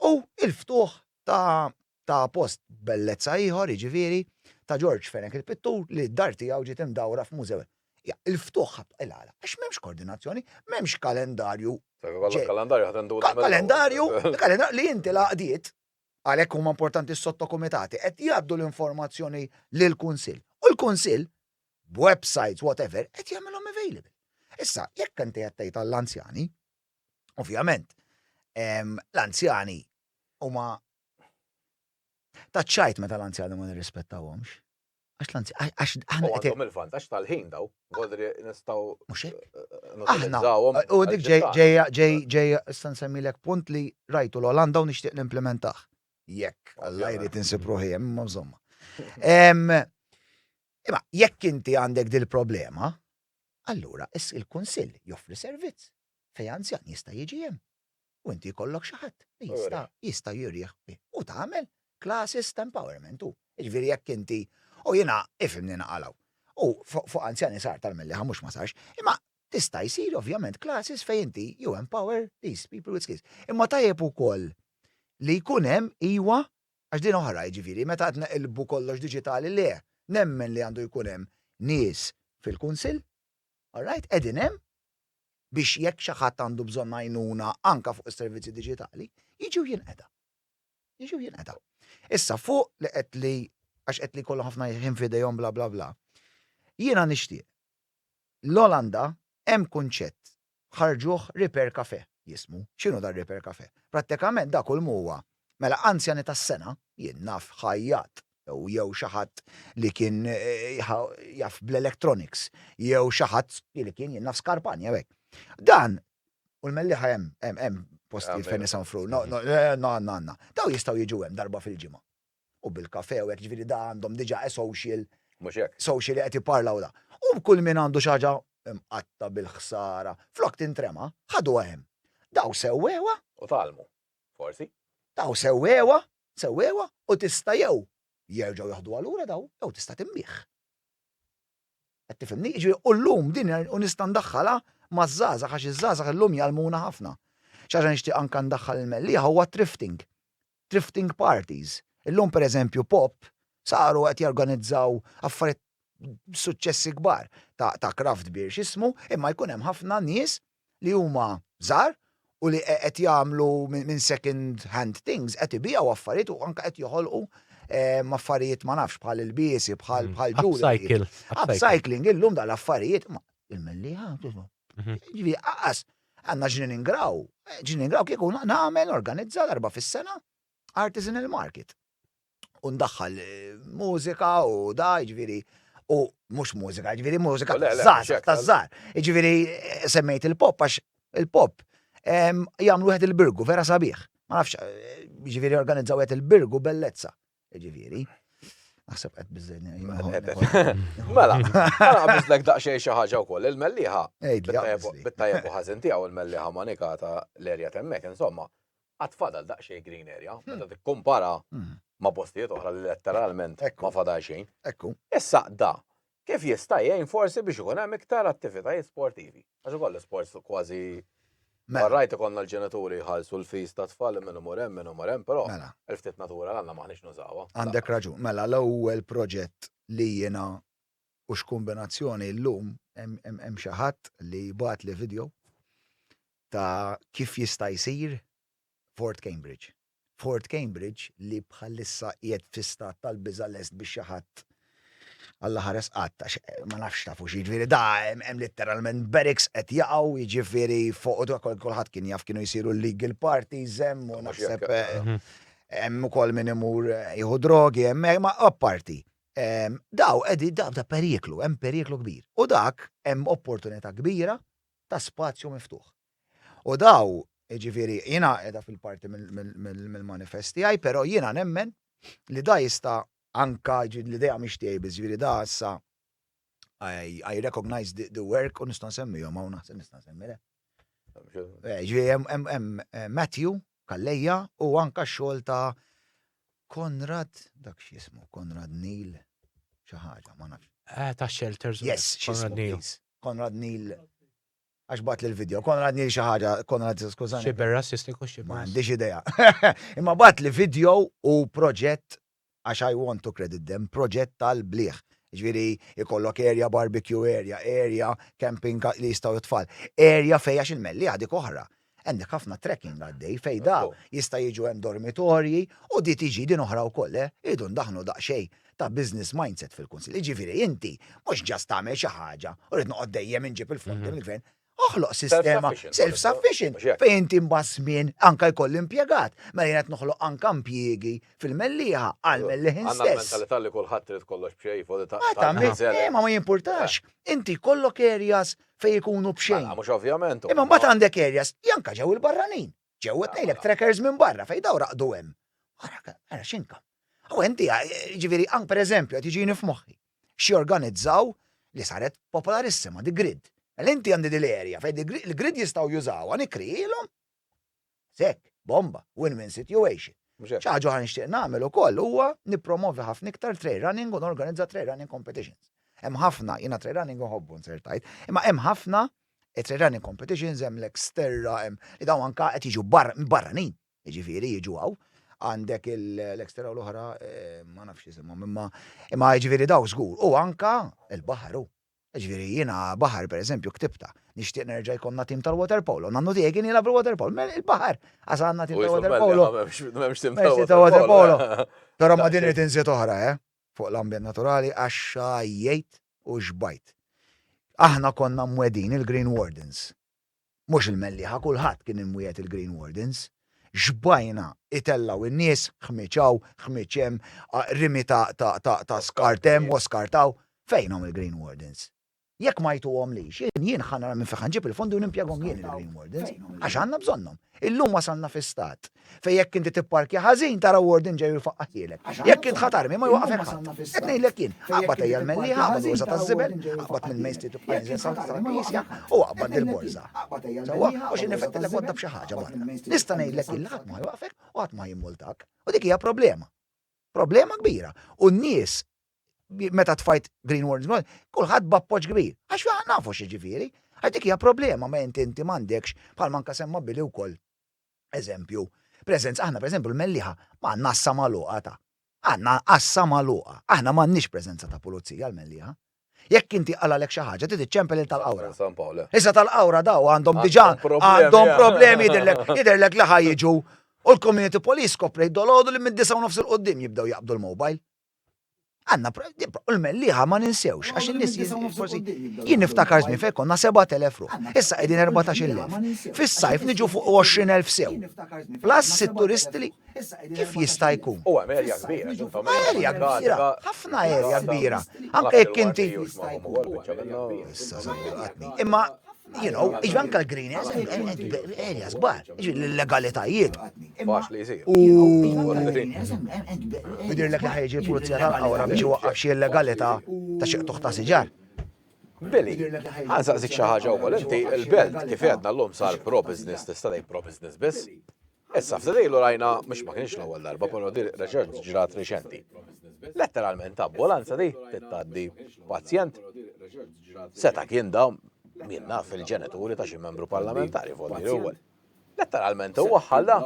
u l-ftuħ ta' post bellezza ieħor, jiġifieri, ta' Ġorġ Fenech il-pittur li d-dar tiegħu ġiet imdawra f'mużew. Ja, il-ftuħ ħadd il-għala, għax m'hemmx koordinazzjoni, m'hemmx kalendarju. Kalendarju ħadd indur. Kalendarju, kalendarju li inti l-għaqdiet għalhekk huma importanti s-sottokumitati qed jgħaddu l-informazzjoni lill-Kunsill. U l-Kunsill b'websites whatever qed jagħmilhom available. Issa, jekk inti qed tgħid għall-anzjani, ovvjament, l-anzjani huma taċċajt meta l-anzjani ma nirrispettawhomx. Għax l-anzi, għax aħna. U għandhom il-vantaġġ tal-ħin daw, għodri nistaw. Mux hekk. Aħna. U dik ġejja ġejja issa nsemmilek punt li rajtu l-Olanda u nixtieq nimplementaħ. Jekk, alla jrid insib ruħi hemm imma żomma. Imma jekk inti għandek dil-problema, allura il-kunsill joffri servizz fejn anzjan jista' jiġi hemm. u inti jkollok xi ħadd li jista' jista' jurih bih u tagħmel classes ta' empowerment u jiġifieri jekk inti u jiena ifhimni naqal hawn u fuq anzjani sar tal-mellieħa mhux ma sarx imma tista' jsir ovvjament classes fejn inti you empower these people with skills imma tajjeb ukoll li jkun hemm iwa għax din oħra jiġifieri meta qed neqilbu kollox diġitali le nemmen li għandu jkun hemm nies fil-kunsill alright qegħdin hemm biex jekk xi ħadd għandu bżonn għajnuna anke fuq is-servizzi diġitali, jiġi u jinqeda. Jiġi u jinqeda. Issa fuq li qed li għax qed li jkollhom ħafna ħin f'idejhom bla bla bla. Jiena nixtieq. L-Olanda hemm kunċett ħarġuh Repair Café jismu. X'inhu dan Repair Café? Prattikament dak hu l-mhuwa Mela, anzjani tas-sengħa, jien naf ħajjat, jew jew xi ħadd li kien jaf bl-electronics, jew xi ħadd li li kien, jien naf skarpan jew hekk. Dan, u l-mellieħa hemm, hemm, hemm postijiet fejn isanfru, no, no, għandna, għandna. Dawn jistgħu jiġu hemm darba fil-ġimgħa. U bil-kafè u hekk, jiġifieri da għandhom diġà a social, social li qed jipparla u da. U kull min għandu xi ħaġa mqatta' bil-ħsara, flok tintrema, ħaduha hemm. Dawn sewwewha. U tgħallmu. forsi. Daw sewwewha, sewwewha u tista' jew jerġgħu jaħduha lura daw jew tista' timmih. Qed tifhimni? Jiġifieri u llum din u nista' ndaħħalha maż-żgħażagħ għax iż-żgħażagħ illum jgħallmuna ħafna. Xi ħaġa nixtieq anke ndaħħal il-mellieħa huwa t-thrifting. Thrifting parties. Illum pereżempju pop saru qed jorganizzaw affarijiet b'suċċessi kbar ta' craft beer x'ismu imma jkun hemm ħafna nies li huma żgħar u li qed jagħmlu minn second hand things qed ibiegħu affarijiet u anke qed joħolqu ehm, affarijiet ma nafx bħal il-biesi, bħal mm. bħal ġuri. Upcycling, illum dal-affarijiet, il-melli mhm. Ġivi, għas, għanna ġnin ingraw, ġnin ingraw kieku nagħmel organizza darba fis-sena, artisanal market. U ndaħħal mużika u da, ġviri, u mux mużika, ġviri mużika taż-żar, taż-żar. Ġviri, semmejt il-pop, għax il-pop jagħmlu wieħed il-birgu, vera sabiħ. Ma nafx, ġviri organizzaw wieħed il-birgu bellezza. Ġviri. Naħseb qed biżejni. Mela, għana biżlek daqsxejn xi ħaġa wkoll il-melliħa. Bit-tajjeb u ħażin tiegħu il-melliħa manikata l-erja temmek, insomma. Għad fadal daqsxejn green area meta tikkumpara ma' postijiet oħra li letteralment ma fadal xejn. Issa da kif jista' jgħin forsi biex ikun hemm iktar attivitajiet sportivi? Għax ukoll l-isports kważi All right ikollna l-ġenituri jħallsu l-fees tat-tfal li min imur hemm min imur hemm però il-ftit natura li għandna m'aħniex nużawha. Għandek raġun. Mela l-ewwel proġett li jiena u x'kumbinazzjoni llum hemm xi ħadd li bagħatli video ta' kif jista' jsir Fort Cambridge. Fort Cambridge li bħalissa qiegħed fi stat tal-biża' lest biex xi ħadd Alla ħares qatt għax ma nafx tafu xi jiġifieri da hemm litteralment barracks qed jaqgħu jiġifieri fuq kulħadd kien jaf kienu jsiru l-legal parties hemm u naħseb hemm ukoll min imur jieħu drogi hemmhekk ma apparti dawn qegħdin da periklu hemm periklu kbir u dak hemm opportunità kbira ta' spazju miftuħ. U daw, jiġifieri, jiena qiegħda fil-parti mill-manifest tiegħi, però jiena nemmen li da jista' anka, jiġifieri l-idea mhix tiegħi biss, jiġifieri da issa I recognize the work u nista' nsemmihom hawn naħseb nista' nsemmi le. Jiġifieri hemm Matthew Calleja u anka x-xogħol ta' Konrad, dak x'jismu, Konrad Neal xi ħaġa, ma nafx. Eh, ta' Shelters. Yes, Konrad Neal. Konrad Neal għax bat li l-video. Konrad Neal xi ħaġa, Konrad skużani. Xi berra sistiku xi. Ma għandix idea. Imma bat li video u proġett għax I want to credit them, proġett tal-bliħ. Jiġifieri jkollok area barbecue area, area camping li jistgħu t-tfal, area fejn għax il-Mellieħa dik oħra. Għandek ħafna trekking għaddej fejn da jista' jiġu hemm dormitorji u di tiġi din oħra wkoll, le? Irridu ndaħħlu daqsxejn ta' business mindset fil-Kunsill. Jiġifieri inti mhux just tagħmel xi ħaġa u rrid noqgħod dejjem inġib il-fondi mill-Gvern, Oħloq sistema self-sufficient fejn inti mbagħad żmien anke jkolli impjegat, mela jien qed noħloq anke impjiegi fil-Mellieħa għall-Mellieħin stess. Għandna mentalità li kulħadd trid kollox b'xejn fuq li tagħmel. Imma ma jimpurtax, inti jkollok areas fejn ikunu b'xejn. Mhux ovvjament. Imma mbagħad għandek areas li anke ġew il-barranin, ġew qed ngħidlek trackers minn barra fejn daw raqdu hemm. Ara x'inka. U inti ġifieri anke pereżempju qed jiġini f'moħħi. x'jorganizzaw li saret popolarissima di grid. Mela inti għandi di l-area fejn di grid, il-grid jistgħu jużawha, nikkrijilhom. Hekk, bomba, win-win situation. Mhux hekk. Xi ħaġa oħra nixtieq nagħmel ukoll huwa nippromovi ħafna iktar trail running u norganizza trail running competitions. Hemm ħafna, jiena trail running inħobbu nsir tajt, imma hemm ħafna trail running competitions, hemm l-Xterra, hemm li dawn anka qed jiġu barranin. Jiġifieri jiġu hawn, għandek l-extra u l-oħra ma nafx isimhom imma imma jiġifieri dawk żgur u anke l-baħar hu. Jiġifieri jiena baħar pereżempju ktibtha, nixtieq nerġa' jkollna tim tal-waterpolo, nannu tiegħi kien jilgħab il-waterpolo, il-baħar għax għandna tim tal-waterpolo. M'hemmx tim tal-waterpolo. Però ma' din irid inżid oħra, eh, fuq l-ambjent naturali għax x'għajjejt u x'bajt. Aħna konna mwegħdin il-Green Wardens Mhux il-mellieħa, kulħadd kien imwiegħed il-Green Wardens. Xbajna itellgħu n-nies, ħmieġ hawn, ħmieġ hemm, rimi ta' skart hemm u skart hawn. Fejnhom il-Green Wardens? Jekk ma jtuhomlix, jien, jien ħa nara minn fejn ħa nġib il-fondi u nimpjegahom jien il-Green Wardens, għax għandna bżonnhom. Illum wasalna fi stat Fej jekk inti tipparkja ħażin tara warden ġej jfaqqaħielek. Jekk int ħadd armi ma jwaqfek ħadd. Qed ngħidlek jien, aqbad ejja l-melli, aqbad borża taż-żibel, aqbad minn Main Street u Pfizer sa l-Knisja u aqbad il-borża. Sewwa, u xi nifettilek wadda b'xi ħaġa barra. Nista' ngħidlek jien li ħadd ma jwaqfek u ħadd ma jimmultak. U dik hija problema. Problema kbira. U n-nies meta tfajt Green Wardens, kulħadd b'appoġġ kbir. Għax fi nafu xi ġifieri. Għax dik hija problema ma inti inti m'għandekx bħal manka semma bili wkoll Eżempju, preżenza, aħna pereżempju l-Mellieħa ma għandna għassa magħluqa ta'. Għandna għassa magħluqa. Aħna m'għandniex preżenza ta' pulizija l-Mellieħa. Jekk inti qalalek xi ħaġa trid iċċempel lil tal-Qawra. Issa tal-Qawra daw għandhom diġà għandhom problemi jidhirlek jidhirlek li ħa jiġu u l-community police koprejt dolodu li mid-disgħa u nofs 'il quddiem jibdew jaqbdu l-mobile. Għandna u l-mellieħa ma ninsewx għax in-nies forsi jien niftakar żmien fejn konna 7000 ruħ. Issa qegħdin 14,000. Fis-sajf niġu fuq 20,000 sew. Plus sitt turisti li kif jista' jkun? U hemm erja kbira, insomma. Erja kbira, ħafna erja kbira. Anke jekk inti. Imma You know, iġi anka l-green areas bar, iġi l-legalitajiet. Bax li jisir. U. Bidir l-ek ħajġi l-pulizija tal-għawra biex waqqaf xie legalita ta' xieq tuħta siġar. Billy, għanżaq zik xaħġa u inti il-belt kif għedna l-lum sar pro-business, tista' pro-business biss. Issa, ftit ilu rajna, mhux ma kienx l-ewwel darba, però di reċent ġrat riċenti. Letteralment ta' ambulanza di tittaddi pazjent. Seta' kien da min naf il-ġenituri ta' xi membru parlamentari volli l-ewwel. Letteralment huwa ħalla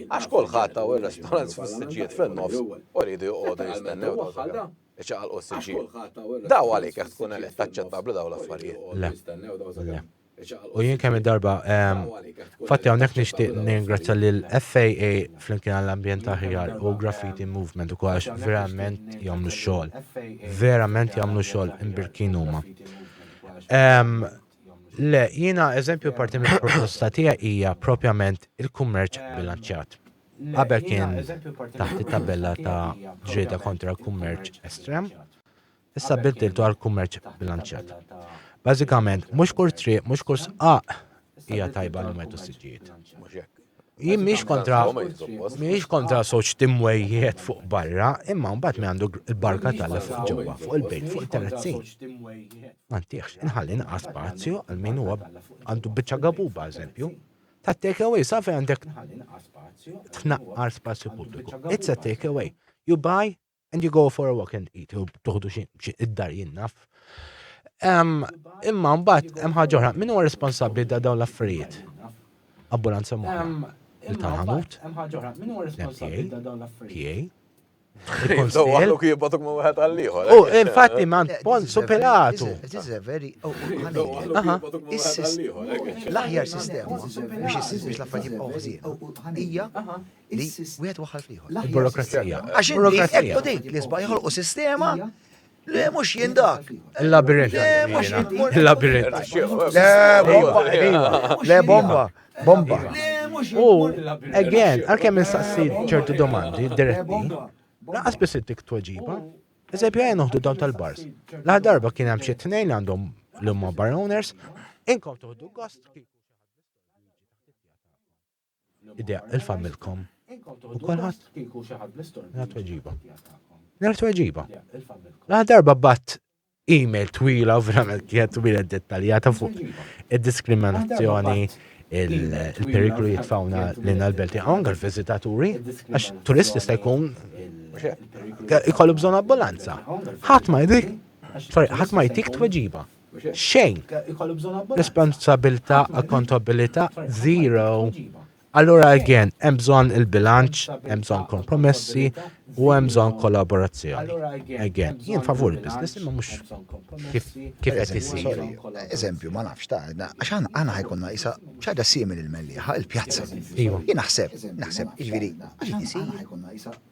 għax kulħadd ta' ir-restaurants fis-siġġiet fin-nofs u rridu joqogħdu jistennew ħalla iċaqalqu s-siġġiet. Daw għalik jekk tkun elett taċċettabbli daw l-affarijiet. Le. U jien kemm darba fatti hawnhekk nixtieq ningrazzja lil FAA flimkien għall-ambjent aħjar u Graffiti Movement ukoll għax verament jagħmlu xogħol. Verament jagħmlu xogħol imbirkin huma. Le, jiena eżempju parti mill-proposta tiegħi hija propjament il-kummerċ bilanċjat. Qabel kien taħt it-tabella ta' ġrieda kontra l-kummerċ estrem. Issa biddiltu għal kummerċ bilanċjat. Bażikament, mhux kull triq, mhux kull sqaq hija tajba li metu siġijiet. Jien mhix kontra mhix kontra soċ timwejjiet fuq barra, imma mbagħad mi għandu l-barka tal fuq ġewwa, fuq il-bejt, fuq il-terrazzin. Mantiex, inħalli naqa' spazju għal min huwa għandu biċċa gabuba, eżempju, ta' take away, sa' fej għandek tnaqqar spazju pubbliku. It's a take away. You buy, And you go for a walk and eat, u toħdu xi id-dar jien naf. Imma mbagħad hemm ħaġa oħra, min huwa responsabbli da dawn l-affarijiet? Ambulanza moħra. Il-tarħamut. PA. Għallu kibatok ma wieħed għall-ieħor. U eh, infatti man Ponzu Pilatu. Oh, l-aħjar sistema biex jisir biex l-affarijiet jibqgħu ħżiena hija li wieħed waħħal fl-ieħor. Il-burokrazija. Għax inti qed tgħid li sbagħ joħolqu sistema Le, mux jien dak. Il-labirint. Il-labirint. Le, bomba. Bomba. U, again, għal-kem nistaqsi ċertu domandi diretti, laqas biss ittik tweġiba. Eżempju, għajn uħdu dawn tal-bars. Laħ darba kien hemm xi tnejn għandhom l-umma bar owners, inkom tuħdu gost Idea il familkom u kolħat. Nara tweġiba. Nara tweġiba. Nara darba bat email twila u verament kienet twila dettaljata fuq id-diskriminazzjoni il-periklu jitfawna l-inna l-belti għong għal-vizitaturi, għax turist jista' jkun jkollu bżon ambulanza. ħadd ma jdik, ħadd ma jtik tweġiba. Xejn. Responsabilità, accountabilità, zero. Allura again, hemm bżonn il-bilanċ, hemm bżonn kompromessi u hemm bżonn kollaborazzjoni. Again, jien favur il-business imma mhux kif kif qed isir. Eżempju, ma nafx ta' għax aħna ħajkonna isa ċaġa simili l-mellieħa, il-pjazza. Jien naħseb, naħseb, jiġifieri, jiġifieri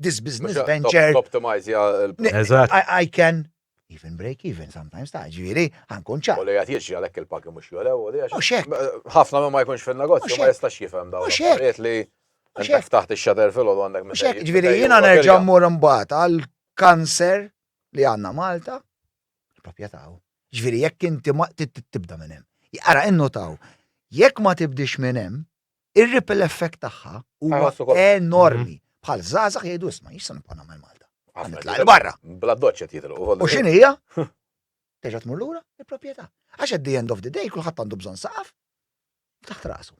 this business venture. Toptimizja l-profitt. Eżatt. I can even break even sometimes, ta' ġifieri, ħankun ċar. U li qed jiġri għalhekk il-pagi mhux jolew u li għax. Mhux hekk. Ħafna minn ma jkunx fin-negozju ma jistax jifhem dawn l-affarijiet li inti ftaħt ix-shutter filgħodu għandek minn. Mhux hekk, ġifieri jiena nerġa' mmur imbagħad għall-kanser li għandna Malta, il-proprjetà hu. Ġifieri jekk inti ma tibda minn hemm. Ara innutaw, jekk ma tibdiex minn hemm, Ir-ripple effect tagħha huwa enormi. Mhm. Bħal żgħażagħ jgħidu isma' jista' nibqa' nagħmel Malta. Nitla' barra. Bla doċċet jidhru. U x'in hija? Terġa' tmur lura il-proprjetà. Għax at the end of the day kulħadd għandu bżonn saqaf taħt rasu.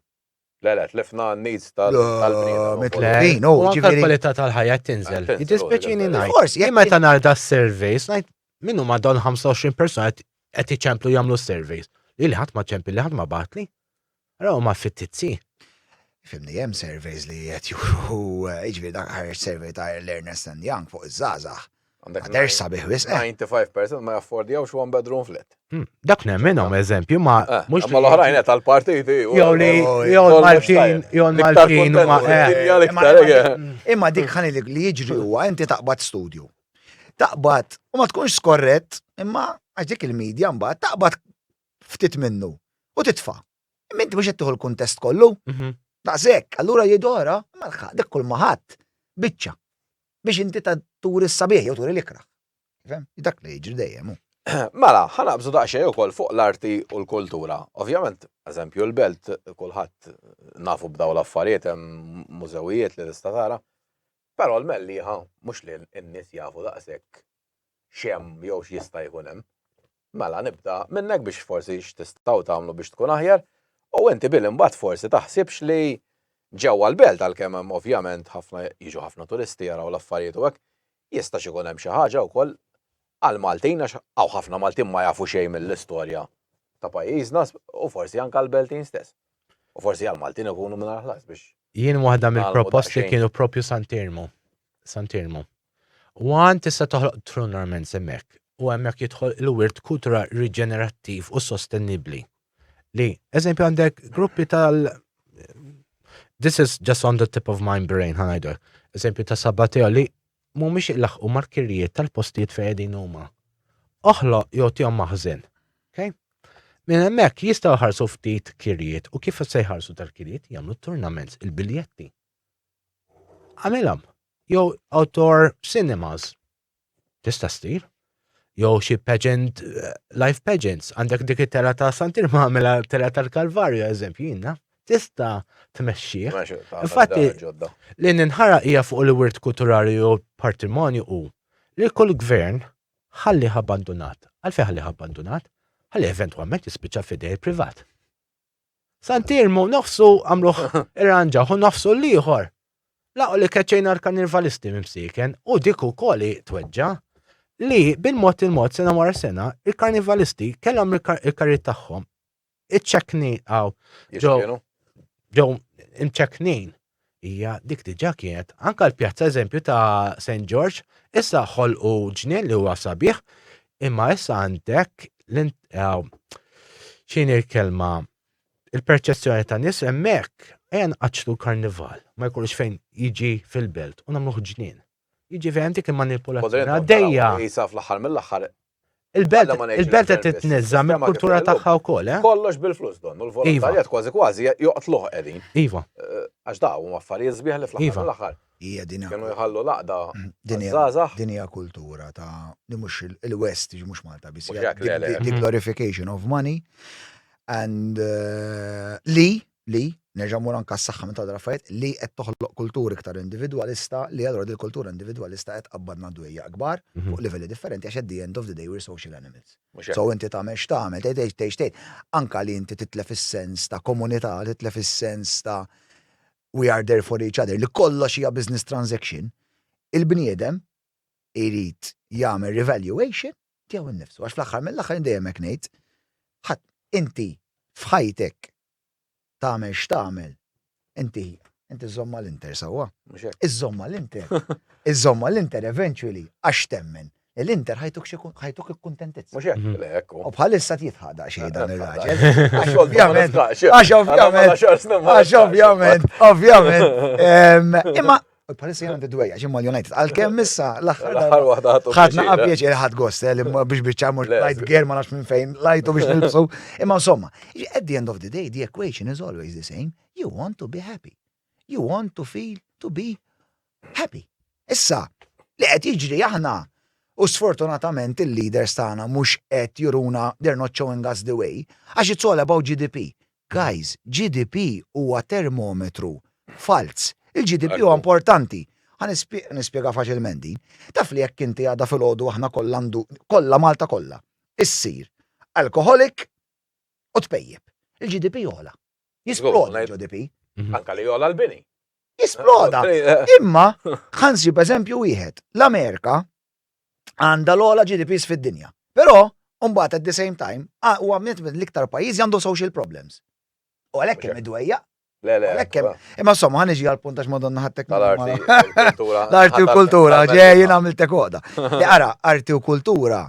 Le, le, tlifna n-needs tal-bniedem. Mitlejn, u ġifiri. kwalità tal-ħajja tinżel. Jitispeċini najt. Forsi, jek meta narda s-surveys, najt minnu ma don 25 persona qed iċemplu jagħmlu s-surveys. Li ħadd ma ċempli, li ħadd ma batli. Ara huma fittizzi. Fimni, hemm surveys li qed juru, jiġifieri dak ħareġ survey ta' l-Ernest and Young fuq iż-żgħażagħ. Ma jidherx sabiħ wisq. 95% ma jaffordjawx one bedroom flat. Dak nemminhom eżempju ma mhux. Imma l-oħrajn qed għall-partiti. Jew li jew l-Maltin jew l-Maltin huma qegħdin. Imma dik ħa ngħidlek li jiġri huwa inti taqbad studju. Taqbad u ma tkunx skorrett imma għax dik il-media mbagħad taqbad ftit minnu u titfa'. Imma inti mhux qed tieħu l-kuntest kollu. Mhm. Daqshekk, allura jgħidu ora, ma lħaq dik kull ma ħadd biċċa biex inti ta' turi s-sabiħ jew turi l-ikrah. Fem? Dak li jiġri dejjem. hu. Mela, ħanaqbżu daqsxejn ukoll fuq l-arti u l-kultura. Ovvjament, eżempju, l-belt kulħadd nafu b'daw l-affarijiet hemm mużewijiet li tista' tara. Però l-mellieħa mhux li n-nies jafu daqshekk x'hemm jew x'jista' jkun hemm. Mela nibda minn hekk biex forsi x'tistgħu tagħmlu biex tkun aħjar u inti Bill imbagħad forsi taħsibx li ġewwa l-belt għalkemm hemm ovvjament ħafna jiġu ħafna turisti jaraw l-affarijiet u hekk jistax ikun hemm xi ħaġa wkoll għall-Maltin għax hawn ħafna Maltin ma jafu xejn mill-istorja ta' pajjiżna u forsi anke għall-Beltin stess. U forsi għall-Maltin ikunu mingħajr ħlas biex Jien waħda mill-proposti kienu proprju Sant'Iermu. Sant'Iermu. One tista' toħloq true normance hemmhekk u hemmhekk jidħol il-wirt kultura riġenerattiv u sostenibbli. Li, eżempju għandek gruppi tal This is just on the tip of my brain, ħanajdu. Eżempju ta' Sabbateo li mhumiex ilaħqu markirijiet tal-postijiet fejn qegħdin huma. Oħloq jew tihom maħżen. Okay? Minn hemmhekk jistgħu ħarsu ftit kirjiet u kif se jħarsu tal-kirjiet jagħmlu turnaments il-biljetti. Għamilha. Jew outdoor cinemas. Tista' ssir. Jew xi pageant, eh, life pageants. Għandek dik it-tela ta' Santir ma' għamilha tela tal-Kalvarju, eżempju, jina. Tista' tmexxih. Infatti, li ninħara hija fuq il-wirt kulturali u patrimonju u li kull gvern ħalli abbandunat. Għalfejn ħalli abbandunat? Ħalli eventwalment jispiċċa f'idej il-privat. San Tirmu nofsu għamluh irranġawh u nofsu l-ieħor laqgħu li keċċejna l-kannirvalisti minn bsieken u dik ukoll hi tweġġa' li bil-mod il-mod sena wara sena l-karnivalisti kellhom il-karrijiet tagħhom iċċekknin hawn ġew ġew imċekknin Hija dik diġà kienet. Anke l-pjazza eżempju ta' Saint George, issa ħolqu ġnien li huwa sabiħ, imma issa għandek x'inhi l-kelma il-perċezzjoni tan-nies hemmhekk ejja nqaċċtu l-karnival, ma jkollux fejn jiġi fil-belt u nagħmluh ġnien. Jiġifieri hemm dik il-manipulazzjoni għaddejja. Qisha fl-aħħar mill-aħħar Il-belt qed titniżża mill-kultura tagħha wkoll, eh? Kollox bil-flus don, u l-volontarjat iva. kważi kważi joqtluh qegħdin. Iva. Eh, għax da huma affarijiet sbieħ li fl-aħħar iva. l-aħħar. Hija dinja. Kienu jħallu laqda. Mm, dinja. Dinja kultura ta' li mhux il-West, mhux Malta biss. The glorification of money and eh, li li, nerġa' mmur anke għas-saħħa minn Todd Rafayette, li qed toħloq kultur iktar individwalista li allura din il-kultura individwalista qed tqabbadna dwejjaq kbar fuq livelli differenti għax at the end of the day we're social animals. So inti tagħmel x'tagħmel, tgħid tgħid tgħid x'tgħid, anke li inti titlef is-sens ta' komunità, titlef is-sens ta' we are there for each other, li kollox hija business transaction, il-bniedem irid jagħmel revaluation Tiegħu nnifsu. Għax fl-aħħar mill-aħħar jien dejjem hekk ngħid, ħadd inti f'ħajtek tagħmel x'tagħmel, inti inti żżomm mal-Inter sewwa. Mhux hekk. Iżżomm mal-Inter. Iżżomm mal-Inter eventually għax temmen li l-Inter ħajtuk xi kun- ħajtuk ikkuntentizza. Mhux hekk. Le, hekk hu. U bħalissa jitħaq daqsxejn dan ir-raġel. Għax ovvjament, għax ovvjament, għax ovvjament, ovvjament. Em, Imma U bħalissa jgħan d-dwejja, ġim mal United. Għal-kem issa, l-axħar wahda ħadu. ħadna għabieċ il-ħad gost, eh, li biex bieċa mux lajt ger ma nafx minn fejn, lajtu biex nilbsu. Imma insomma, at the end of the day, the equation is always the same. You want to be happy. You want to feel to be happy. Issa, li qed jiġri aħna, U sfortunatament il-leaders tagħna mhux qed juruna they're not showing us the way, għax it's all about GDP. Guys, GDP huwa termometru falz. Il-GDP huwa importanti. Ħa nispjega faċilment din. Taf li jekk inti għada filgħodu aħna kollha ndu, kollha Malta kollha, issir alkoħolik u tpejjep. Il-GDP jogħla. Jisploda il-GDP. Mhm. Anka li jogħla l-bini. Jisploda. Imma, ħansib eżempju wieħed, l-Amerika għandha l-ogħla GDPs fid-dinja. Però, mbagħad at the same time, huwa għamnet minn l-iktar pajjiżi għandu social problems. U għalhekk hemm idwejja. Le, le. Għalhekk hemm. Imma insomma, ħan iġi għal puntax madonna ħattek. L-arti u kultura, ġej jien għamiltek għoda. Li ara, arti u kultura,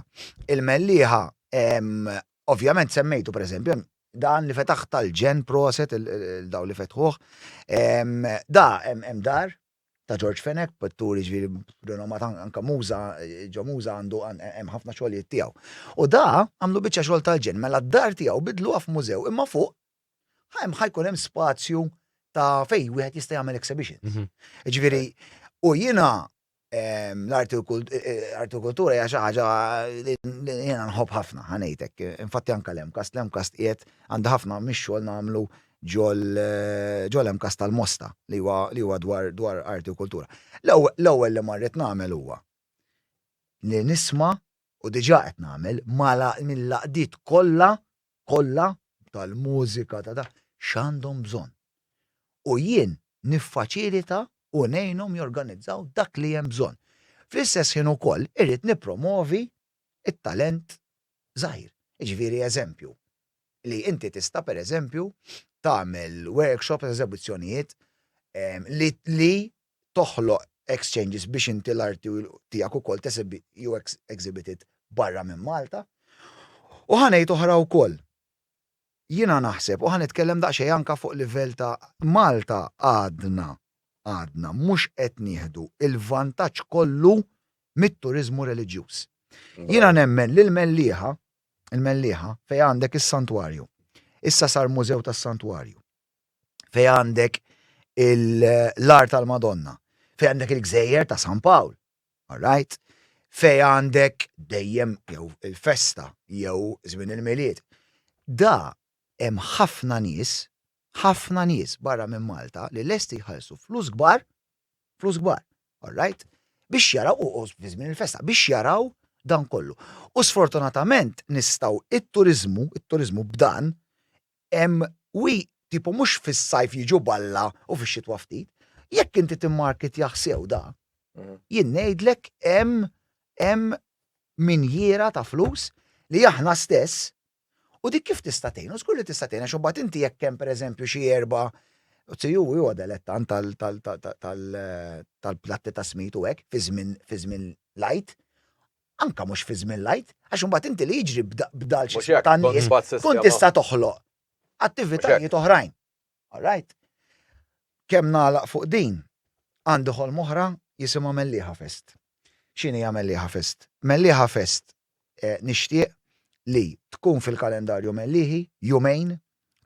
il-melliħa, ovvjament semmejtu per eżempju, dan li fetaħ tal-ġen proset, il-daw li fetħuħ, da, hemm dar, ta' Ġorġ Fenech, pitturi ġifieri b'rinomat anke Muża, ġo Muża għandu hemm ħafna xogħlijiet tiegħu. U da għamlu biċċa xogħol tal-ġenn, mela d-dar tiegħu biddluha f'mużew imma fuq hemm ħa jkun hemm spazju ta' fejn wieħed jista' jagħmel exhibitions. Ġifieri, u jiena l-arti u l-kultura hija xi ħaġa li jiena nħobb ħafna, ħa ngħidlek. Infatti anke l-MCAST, l-MCAST qiegħed għandha ħafna mix-xogħol nagħmlu ġol MCAST tal-Mosta li huwa li huwa dwar dwar arti u kultura. L-ewwel li marret nagħmel huwa li nisma' u diġà qed nagħmel mala mill-għaqdiet kollha kollha tal-mużika ta' da x'għandhom bżonn. U jien niffaċilita u ngħinhom jorganizzaw dak li hemm bżonn. Fl-istess ħin ukoll irrid nippromovi t-talent żgħir. Jiġifieri eżempju, li inti tista' pereżempju tagħmel workshops, eżebizzjonijiet li toħloq exchanges biex inti l-arti tiegħek ukoll jew exhibited barra minn Malta. U ħa ngħid oħra wkoll. Jiena naħseb u ħa nitkellem daqsxejn anke fuq livell ta' Malta għadna, għadna mhux qed nieħdu l-vantaġġ kollu mit-turiżmu reliġjuż. Jiena nemmen li l-Mellieħa il-Mellieħa, fejn għandek is-Santwarju. Issa sar mużew tas-Santwarju. Fejn għandek l-ar tal-Madonna. Fejn għandek il-gżejjer ta' San Pawl. Alright? Fejn għandek dejjem jew il-festa jew żmien il-milied. Da hemm ħafna nies, ħafna nies barra minn Malta li lesti jħallsu flus kbar Flus kbar, all right? Biex jaraw, u u fi żmien il-festa, biex jaraw dan kollu. U sfortunatament nistgħu it-turiżmu, it-turiżmu b'dan, hemm wi tipo mhux fis-sajf jiġu balla u fix-xitwa ftit. Jekk inti timmarkitjah sew da, jien ngħidlek hemm hemm minjiera ta' flus li aħna stess U dik kif tista' tgħin? U żgur li tista' tgħin għax imbagħad inti jekk hemm pereżempju xi erba' Tziju hu huwa delettant tal-platti ta' smid u hekk fi żmien fi żmien l-Għid. Anke mhux fi żmien l-Għid, għax imbagħad inti li jiġri b'dal xi ta' nies tkun tista' toħloq attivitajiet oħrajn. All right. Kemm nagħlaq fuq din, għandi ħolma oħra jisimha Mellieħa Fest. X'inhi hija Mellieħa Fest? Mellieħa Fest nixtieq li tkun fil-kalendarju Mellieħi, jumejn,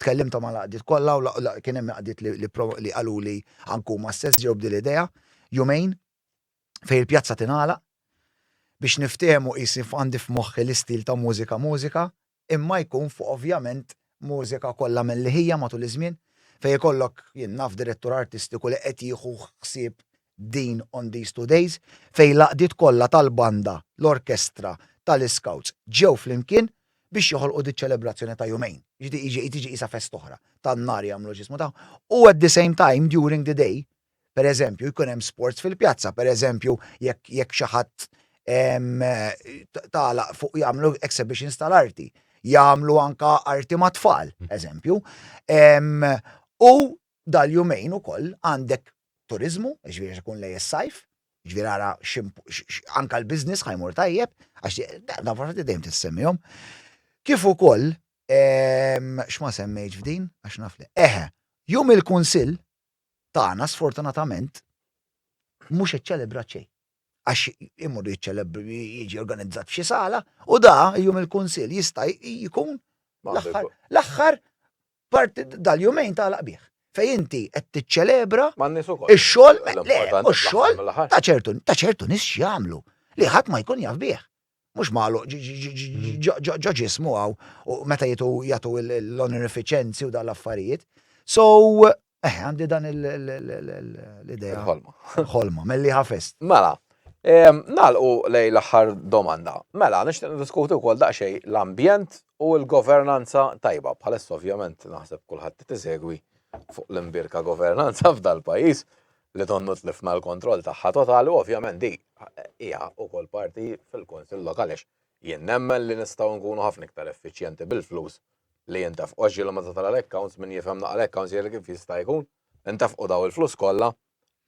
tkellimta mal-għaqdiet kollha u kien hemm għaqdiet li qaluli anke huma stess ġew b'din l-idea, jumejn fejn il-pjazza tingħalaq biex niftehmu qisni għandi f'moħħi l-istil ta' mużika mużika, imma jkun fuq ovvjament mużika kollha mil-liħija matul iż-żmien fejn ikollok, jien naf, direttur artistiku li qed jieħu ħsieb din on these two days fejn l-għaqdiet kollha tal-banda, l-orkestra, tal-iskawts ġew flimkien biex joħolqu diċ-ċelebrazzjoni ta' jumejn. Jiġifieri tiġi qisha festa oħra, tan-nhar jagħmlu x'jismu tagħhom u at the same time during the day Per eżempju, jkun hemm sports fil-pjazza, per eżempju, jekk jekk xi ħadd tagħlaq fuq jagħmlu exhibitions tal-arti, jagħmlu anka arti ma' tfal, eżempju. U dal-jumejn ukoll għandek turiżmu, ġifieri għax ikun lejn is-sajf, ġifieri ara anka l-business ħa jmur tajjeb, għax dawn l-affarijiet dejjem tissemmihom. Kif ukoll, x'ma semmejtx f'din, għax naf li, eħe, jum il-Kunsill, tagħna sfortunatament mhux iċċelebrat xejn. Għax imur jiċċeleb jiġi organizzat f'xi sala u da jum il-kunsill jista' jkun l-aħħar parti dal-jumejn ta' laqbih. Fej inti qed tiċċelebra ix-xogħol u x-xogħol ta' ċertu ta' ċertu nies x'jagħmlu li ħadd ma jkun jaf bih. mhux magħluq ġo ġismu hawn u meta jitu jagħtu l-onorifiċenzi u dan l-affarijiet. So, eh, għandi dan l-idea. Ħolma. Ħolma, melli ħafest. Mela, nalqu lej l-aħħar domanda. Mela, nixtieq diskutu wkoll daqsxej l-ambjent u l-governanza tajba. Bħalissa ovvjament naħseb kulħadd tisegwi fuq l-imbirka governanza f'dal-pajjiż. li donnu tlifna l-kontroll tagħha totali u ovvjament di hija wkoll parti fil-Kunsill Lokali għax jien nemmen li nistgħu nkunu ħafna iktar effiċjenti bil-flus li jintefqu għax ġieli meta tara l-accounts min jifhem naqra l-accounts jgħidlek kif jista' jkun intefqu dawn il-flus kollha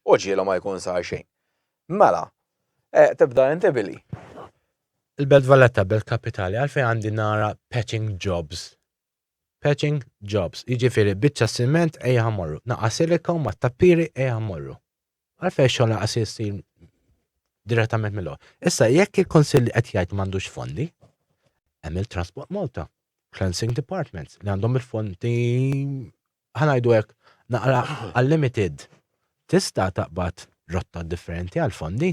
u ġieli ma jkun sar xejn. Mela, e, tibda inti billi. Il-Belt Valletta, Belt Kapitali, għalfejn għandi nara patching jobs Patching jobs, jiġifieri biċċa siment ejha morru, naqas silika u mat-tappiri ejha morru. Għalfejn xogħol naqas jsir direttament mill Issa jekk il-Kunsill li qed jgħid m'għandux fondi, hemm il-Transport Malta, Cleansing Departments li għandhom il-fondi ħa ngħidu hekk, naqra għal-limited, tista' taqbad rotta differenti għall-fondi.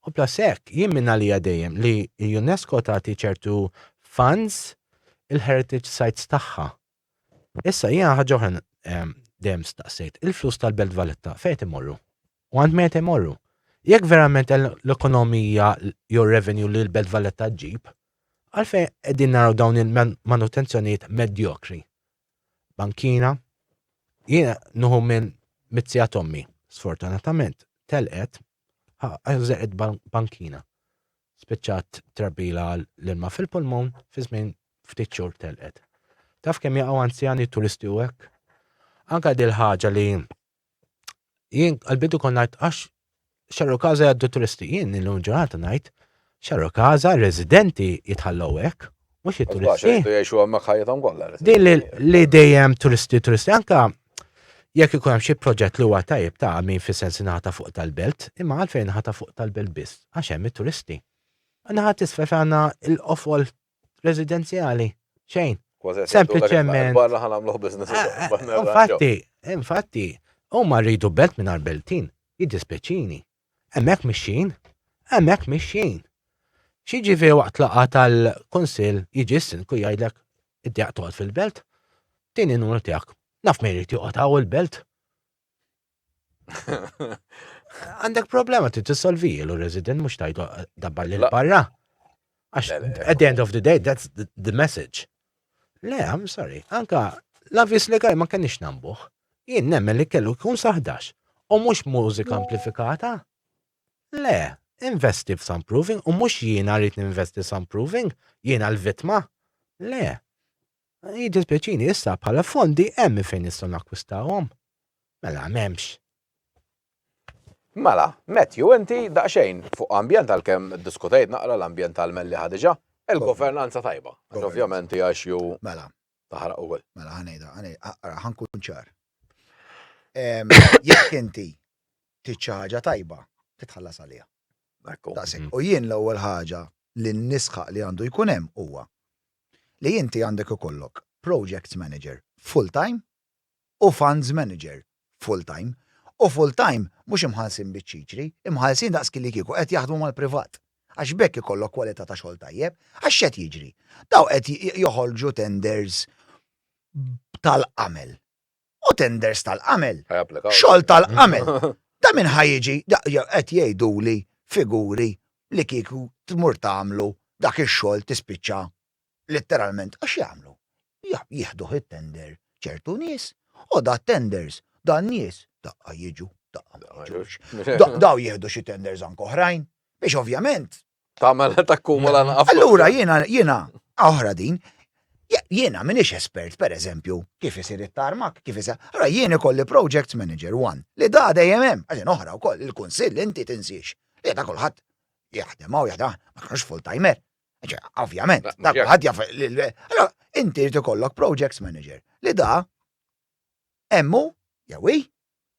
U plus hekk, jien minn għalija dejjem li l-UNESCO tagħti ċertu funds il-heritage sites tagħha. Issa jiena ħaġa oħra ehm, dejjem staqsejt, il-flus tal-Belt Valletta fejn imorru? U għand meta imorru? Jekk verament l-ekonomija jew revenue li l-Belt Valletta ġib, għalfejn qegħdin naraw dawn il-manutenzjonijiet medjokri bankina. Jiena nuhu minn mizzija tommi, sfortunatament telqet għażeqet bankina. Spiċċat trabbila l-ilma fil-pulmun fi żmien ftit xhur telqet. Taf kemm jaqgħu anzjani turisti u hekk? Anka dil ħaġa li jien għal-bidu kon ngħid għax xarru kaza jgħaddu turisti, jien illum ġurnata ngħid xarru kaza residenti jitħallew hekk, mhux it-turisti. Jgħixu hemmhekk ħajjithom kollha. Din li dejjem turisti turisti anka jekk ikun hemm xi proġett li huwa tajjeb ta' min fis-sens inħata fuq tal-belt, imma għalfejn inħata fuq tal-belt biss għax hemm it-turisti. Naħat isfel għandna l-qofol residenzjali, xejn. Sempliċement. Barra ħan għamluħ biznis. Eh, eh, infatti, infatti, u ma rridu belt minn beltin, jiddispeċini. Emmek mixin, emmek mixin. Xieġi fi waqt laqa tal-konsil jiġi s-sinku jgħidlek id-djaq toqgħod fil-belt, tini numru tiegħek. Naf meri tiqgħod għaw il-belt. Għandek problema ti tissolvi l resident mux tajdu dabbar li l-barra. Għax, at the end of the day, that's the, the message. Le, I'm sorry, anka l-avvis legali ma kenix nambuħ. Jien nemmen li kellu kun saħdax. U mux mużika amplifikata. Le, investi f'soundproofing u mux jiena rrit investi soundproofing, jiena l-vitma. Le, Jiddispjaċini, issa bħala fondi hemm minn fejn nistgħu nakkwistawhom? Mela m'hemmx. Mela, Matthew, inti daqsxejn fuq ambjent għalkemm iddiskutejt naqra l-ambjent tal-mellieħa diġà, il-governanza tajba. Għax ovvjament hija issue Mela, taħraq ukoll. mela ħa ngħidha, ħa ngħidha, ara, ħa nkun ċar. Ehm, Jekk inti trid xi ħaġa tajba, trid tħallas għaliha. Ekku. Daqshekk. U jien l-ewwel ħaġa li nisħaq li għandu jkun hemm huwa li inti għandek ikollok projects manager full-time u funds manager full-time u full-time mhux imħallsin biċ-ċiċri, imħallsin daqskielikieku qed jaħdmu mal-privat għax b'hekk ikollok kwalità ta' xogħol tajjeb għax x'qed jiġri? Dawn qed joħorġu tenders b'tal-qamel. u tenders tal-qamel. Xogħol tal-qamel. Ta' min ħa jiġi, qed jgħiduli figuri li kieku tmur tagħmlu dak ix-xogħol tispiċċa litteralment għax jagħmlu? Jieħduh it-tender ċertu nies u da t-tenders da n-nies daqqa jiġu, daqqa ma jiġux. Daw jieħdu xi tenders anke oħrajn biex ovvjament Tagħmel takkumula mela, naqaf. Allura jiena jiena oħra din. Jiena minix espert, per eżempju, kif isir it-tarmak, kif isir. Allora jien ikolli project manager one li da dejjem hemm, għaxin oħra wkoll il-kunsill inti tinsiex. Li da kulħadd jaħdem hawn jaħdem ma kienx full timer. Ovvjament, da kulħadd jaf. Allora inti rid ikollok project manager li da hemm hu jew hi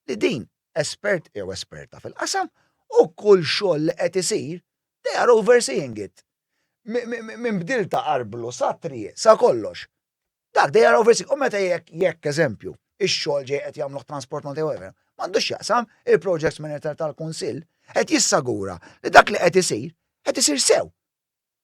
li din espert jew esperta fil-qasam u kull xogħol li qed isir they are overseeing it. Minn bdil ta' arblu sa triq sa kollox. Dak they are overseeing u meta jekk jekk eżempju ix-xogħol ġej qed jagħmluh Transport Malta jew whatever m'għandux x'jaqsam il-projects manager tal-Kunsill qed jissagura li dak li qed isir qed isir sew.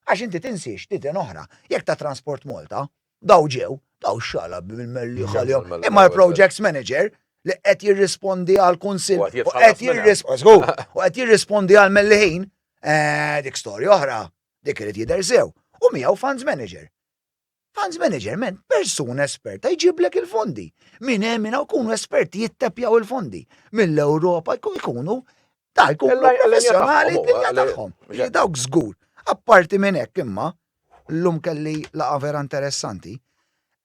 Għax inti tinsiex li ten oħra, jekk ta' Transport Malta, daw ġew, daw xala bil-mellieħ għalihom, imma l-projects manager li qed jirrispondi għall-kunsill u qed jirrispondi għall-mellieħin, eh, dik storja oħra, dik irid jidher sew, u miegħu funds manager. Funds manager meant persuna esperta jġiblek il-fondi. Minn hemm minn hawn jkunu esperti jittepjaw il-fondi. Mill-Ewropa jkunu ta' jkunu professjonali d-dinja tagħhom. Dawk żgur. Apparti minn hekk imma, llum kelli laqgħa vera interessanti,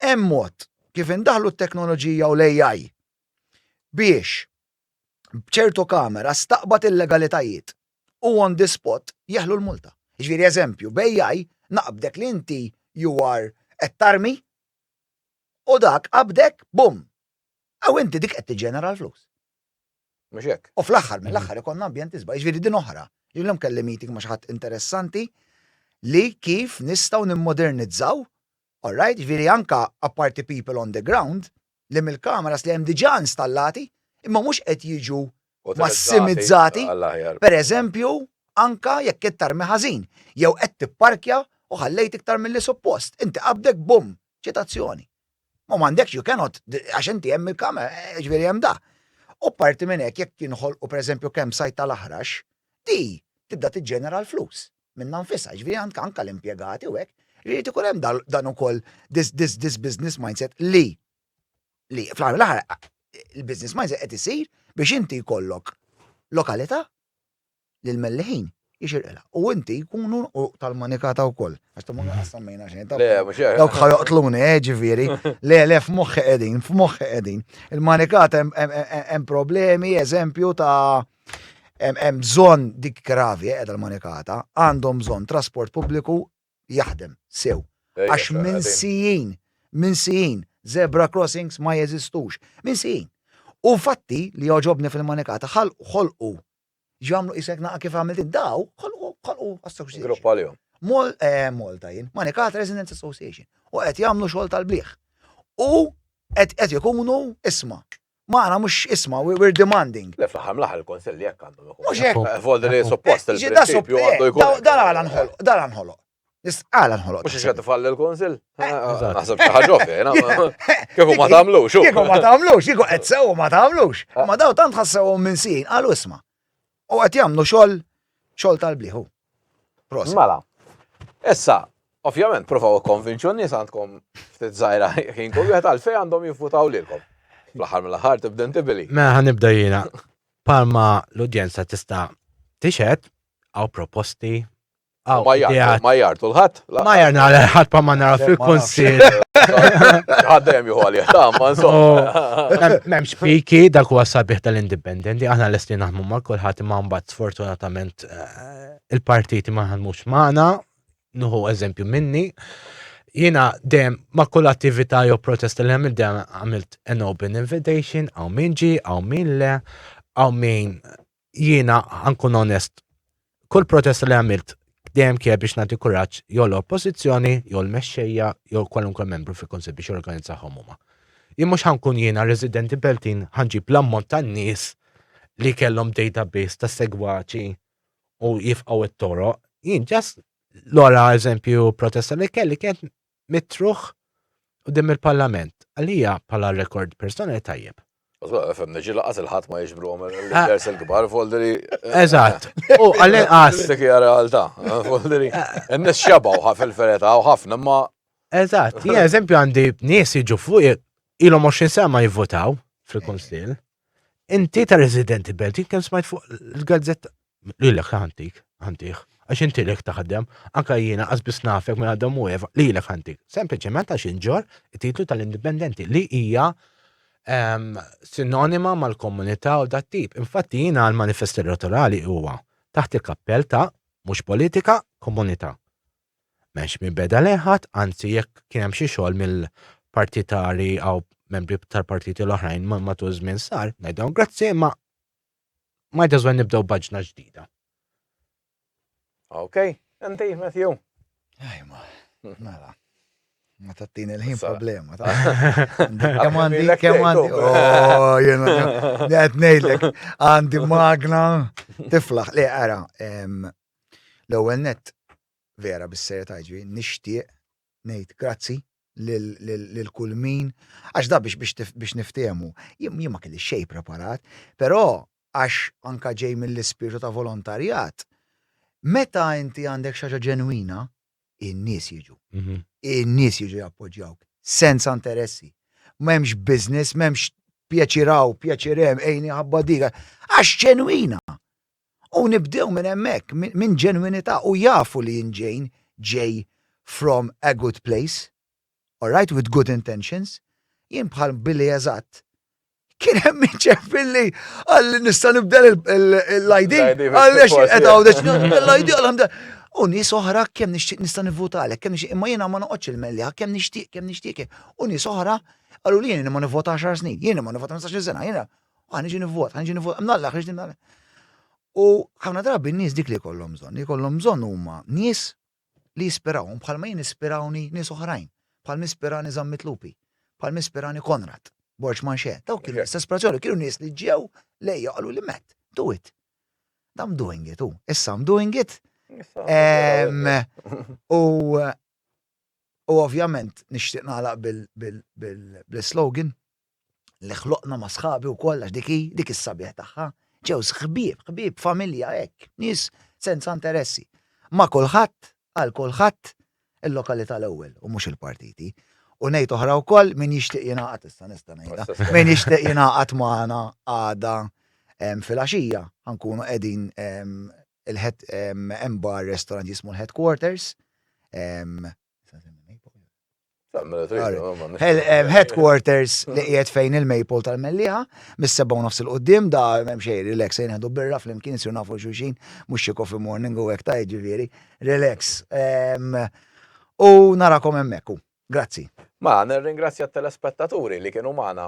hemm mod kif indaħħlu t-teknoloġija u l-AI biex b'ċertu kamera staqbad illegalitajiet. u on the spot jeħlu l-multa. Jiġifieri eżempju, bejjaj naqbdek li inti you are qed tarmi u dak qabdek bum! Hawn inti dik qed tiġġenera l-flus. Mhux hekk? U fl-aħħar mill-aħħar ikollna ambjent isbaħ. Jiġifieri din oħra. Illum kelli meeting ma' xi ħadd interessanti li kif nistgħu nimmodernizzaw All right, jiġifieri anke apparti people on the ground, li mill-cameras li hemm diġà installati, imma mhux qed jiġu massimizzati, per eżempju, anke jekk qed tarmi ħażin, jew qed tipparkja u ħallejt iktar milli suppost, inti qabdek bumm, ċitazzjoni. U m'għandekx, you cannot, għax inti hemm il-kamera, eh, jiġifieri hemm da. U parti minn hekk jekk jinħolqu per eżempju kemm sajt tal-aħrax, di tibda tiġġenera l-flus. minnha nfisha, jiġifieri għandek anke l-impjegati u hekk, irid ikun hemm dan ukoll this business mindset li li fl-aħħar mill-aħħar il-business mindset qed isir biex inti jkollok lokalità li l-melliħin jixirqilha. U inti jkunu u tal-manikata wkoll. Għax tamu għassemmejna xejn. Le, mhux hekk. Dawk ħajoqtluni, eh, ġifieri. Le, le, f'moħħi qegħdin, f'moħħi qegħdin. Il-manikata hemm problemi, eżempju ta' Hemm bżonn dik gravi qiegħda l-manikata, għandhom bżonn trasport pubbliku jaħdem sew. Għax minsijin, minsijin, zebra crossings ma jeżistux. Minsijin. U fatti li jogħġobni fil-manikata ħolqu ġamlu isek naqa kif għamilt id-daw, ħolqu ħolqu association. Grupp għalihom. Mol, eh, Malta jien, Manikat Residents Association. U qed jagħmlu xogħol tal-bliħ. U qed qed ikunu isma. Ma aħna mhux isma' we're demanding. Le fl-aħħar mill-aħħar il-Kunsill jekk għandhom ikun. Mhux hekk. Eh, Volder li suppost il-prinċipju għandu eh, jkun. Dan għala nħoloq, dan għala nħoloq. Għala nħoloq. Mhux xi tifall il-Kunsill. Eh, naħseb xi ħaġa fiena. Kieku ma tagħmlux. Kieku ma tagħmlux, kieku qed sew ma tagħmlux. Ma daw tant ħassewhom minn sin, qalu isma'. U qed jagħmlu xogħol xogħol tal-blieħu. Prosa. Mela. Issa, ovvjament, provaw ikkonvinċu n-nies għandkom ftit żgħira ħin kull wieħed għalfejn għandhom jivvutaw lilkom. Fl-aħħar mill-aħħar tibda intibili. Mela ħanibda jiena. Palma l-udjenza tista' tixed għaw proposti U ma jgħid, ma jgħid, u l-ħadd. Ma jgħid għal ħadd pa ma nara fil-konsil. Għaddem juhu għalih, ta' ma insomma. Memx piki dak huwa sabiħ tal-indipendenti, aħna l-estin naħmu ma' kulħadd ma' mbagħad sfortunatament eh, il-partiti ma ħanmux magħna, nuhu eżempju minni. Jina dem ma' kull attività jew protest li għamilt dem għamilt an open invitation, għaw min ġi, għaw min le, għaw min jiena għankun onest, kull protesta li għamilt dejjem kien biex nagħti kuraġġ jew l-oppożizzjoni jew l-mexxejja jew kwalunkwe membru fil-Kunsill biex jorganizzahom huma. Jien mhux ħankun jiena residenti Beltin ħanġib l-ammont tan-nies li kellhom database ta' segwaċi u jifqgħu t-toroq. Jien ġast l-ora eżempju protesta li kelli kienet mitruħ quddiem il-Parlament. Għalija bħala rekord personali tajjeb. Fem neġi laqas il-ħat ma jiġbru għom il-vers il-gbar, folderi. Eżat, u għallin għas. Dik hija realtà, folderi. N-nis xabaw ħaf il-fereta u ħafna ma. Eżat, jien eżempju għandi nies jiġu fuq ilhom 20 sena ma jivvotaw fil-Kunsill. Inti ta' residenti belt, kemm smajt fuq il-gazzetta. Lilek ta' ħantik, ħantiħ. Għax inti lek taħdem, anka jiena qasbis nafek minn għadhom u eva, lilek ħantik. Sempliċement għax inġor titlu tal-indipendenti li hija ehm, sinonima mal-komunità u dat tip. Infatti jiena l-manifest elettorali huwa taħt il-kappell ta' mhux politika, komunità. M'hemmx min beda lejn ħadd, anzi jekk kien hemm xi xogħol mill-partitari għaw membri tal-partiti l-oħrajn matul żmien sar, ngħidhom grazzi imma might as well nibdew baġna ġdida. Ok, inti, Matthew. Ajma, mela. Ma tattini l-ħin problema. Kem għandi, kem għandi. Oh, jena, għed nejdlek, għandi magna, tiflaħ, li għara, L-ewwel nett, vera bis-serjetà jiġri, nixtieq ngħid grazzi lil kull min, għax da biex niftiehmu, jien ma kellix xejn preparat, però għax anke ġej mill-ispirtu ta' volontarjat, meta inti għandek xi ħaġa ġenwina, in-nies jiġu. In-nies jiġu jappoġġjawk, senza interessi. M'hemmx business, m'hemmx pjaċir hawn, pjaċir hemm, għini ħabba dik, għax ġenwina. U nibdew minn hemmhekk, minn ġenwinità u jafu li jien ġejn, ġej from a good place, alright, with good intentions, jien bħal Billy eżatt, kien hemm min ċempil li qalli nista' nibdel l-ID, qalli għax qed għawdex nibdel l-ID għal U nies oħra kemm nixtieq nista' nivvutalek, kemm nixtieq imma jiena ma noqgħodx il-melliha, kemm nixtieq, kemm nixtieq. U nies oħra qalu li jien ma nivvota għaxar snin, jien ma nivvota 15 sena, jiena. Għan iġi nivvot, għan iġi nivvot, mnalla, xiex nalla. U ħafna drabi n-nies dik li kollom bżonn, li kollom bżonn huma nies li jispirawhom bħal ma jien ispirawni nies oħrajn, bħal mispirani Zammit Lupi, bħal mispirani Konrad, Borġ Manxe, daw kienu l-istess ispirazzjoni, kienu nies li ġew lejja qalu li met, do it. I'm doing it, u issa I'm doing it. U u ovvjament nixtieq nagħlaq bil-slogan li ħloqna ma' sħabi wkoll għax dik hi dik is-sabiħ tagħha. Ġew ħbieb, ħbieb familja hekk, nies senza interessi. Ma' kulħadd, għal kulħadd, il-lokalità l-ewwel u mhux il-partiti. U ngħid oħra wkoll min jixtieq jingħaqad issa nista' ngħidha. Min jixtieq jingħaqad magħna għada fil-għaxija ħankunu qegħdin il-head hemm bar restaurant jismu l-headquarters Headquarters li qiegħed fejn il-Maple tal-Melliħa, mis-seba' nofs il-qudiem da hemm xejn relax se ngħidu birra flimkien isir nafu xulxin mhux xi coffee morning u hekk ta' jiġifieri relax. U narakom hemmhekk u grazzi. Mela nirringrazzja t-telespettaturi li kienu magħna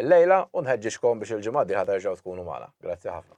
llejla u nħeġġiġkom biex il-ġimgħa d-dieħla terġgħu tkunu magħna. Grazzi ħafna.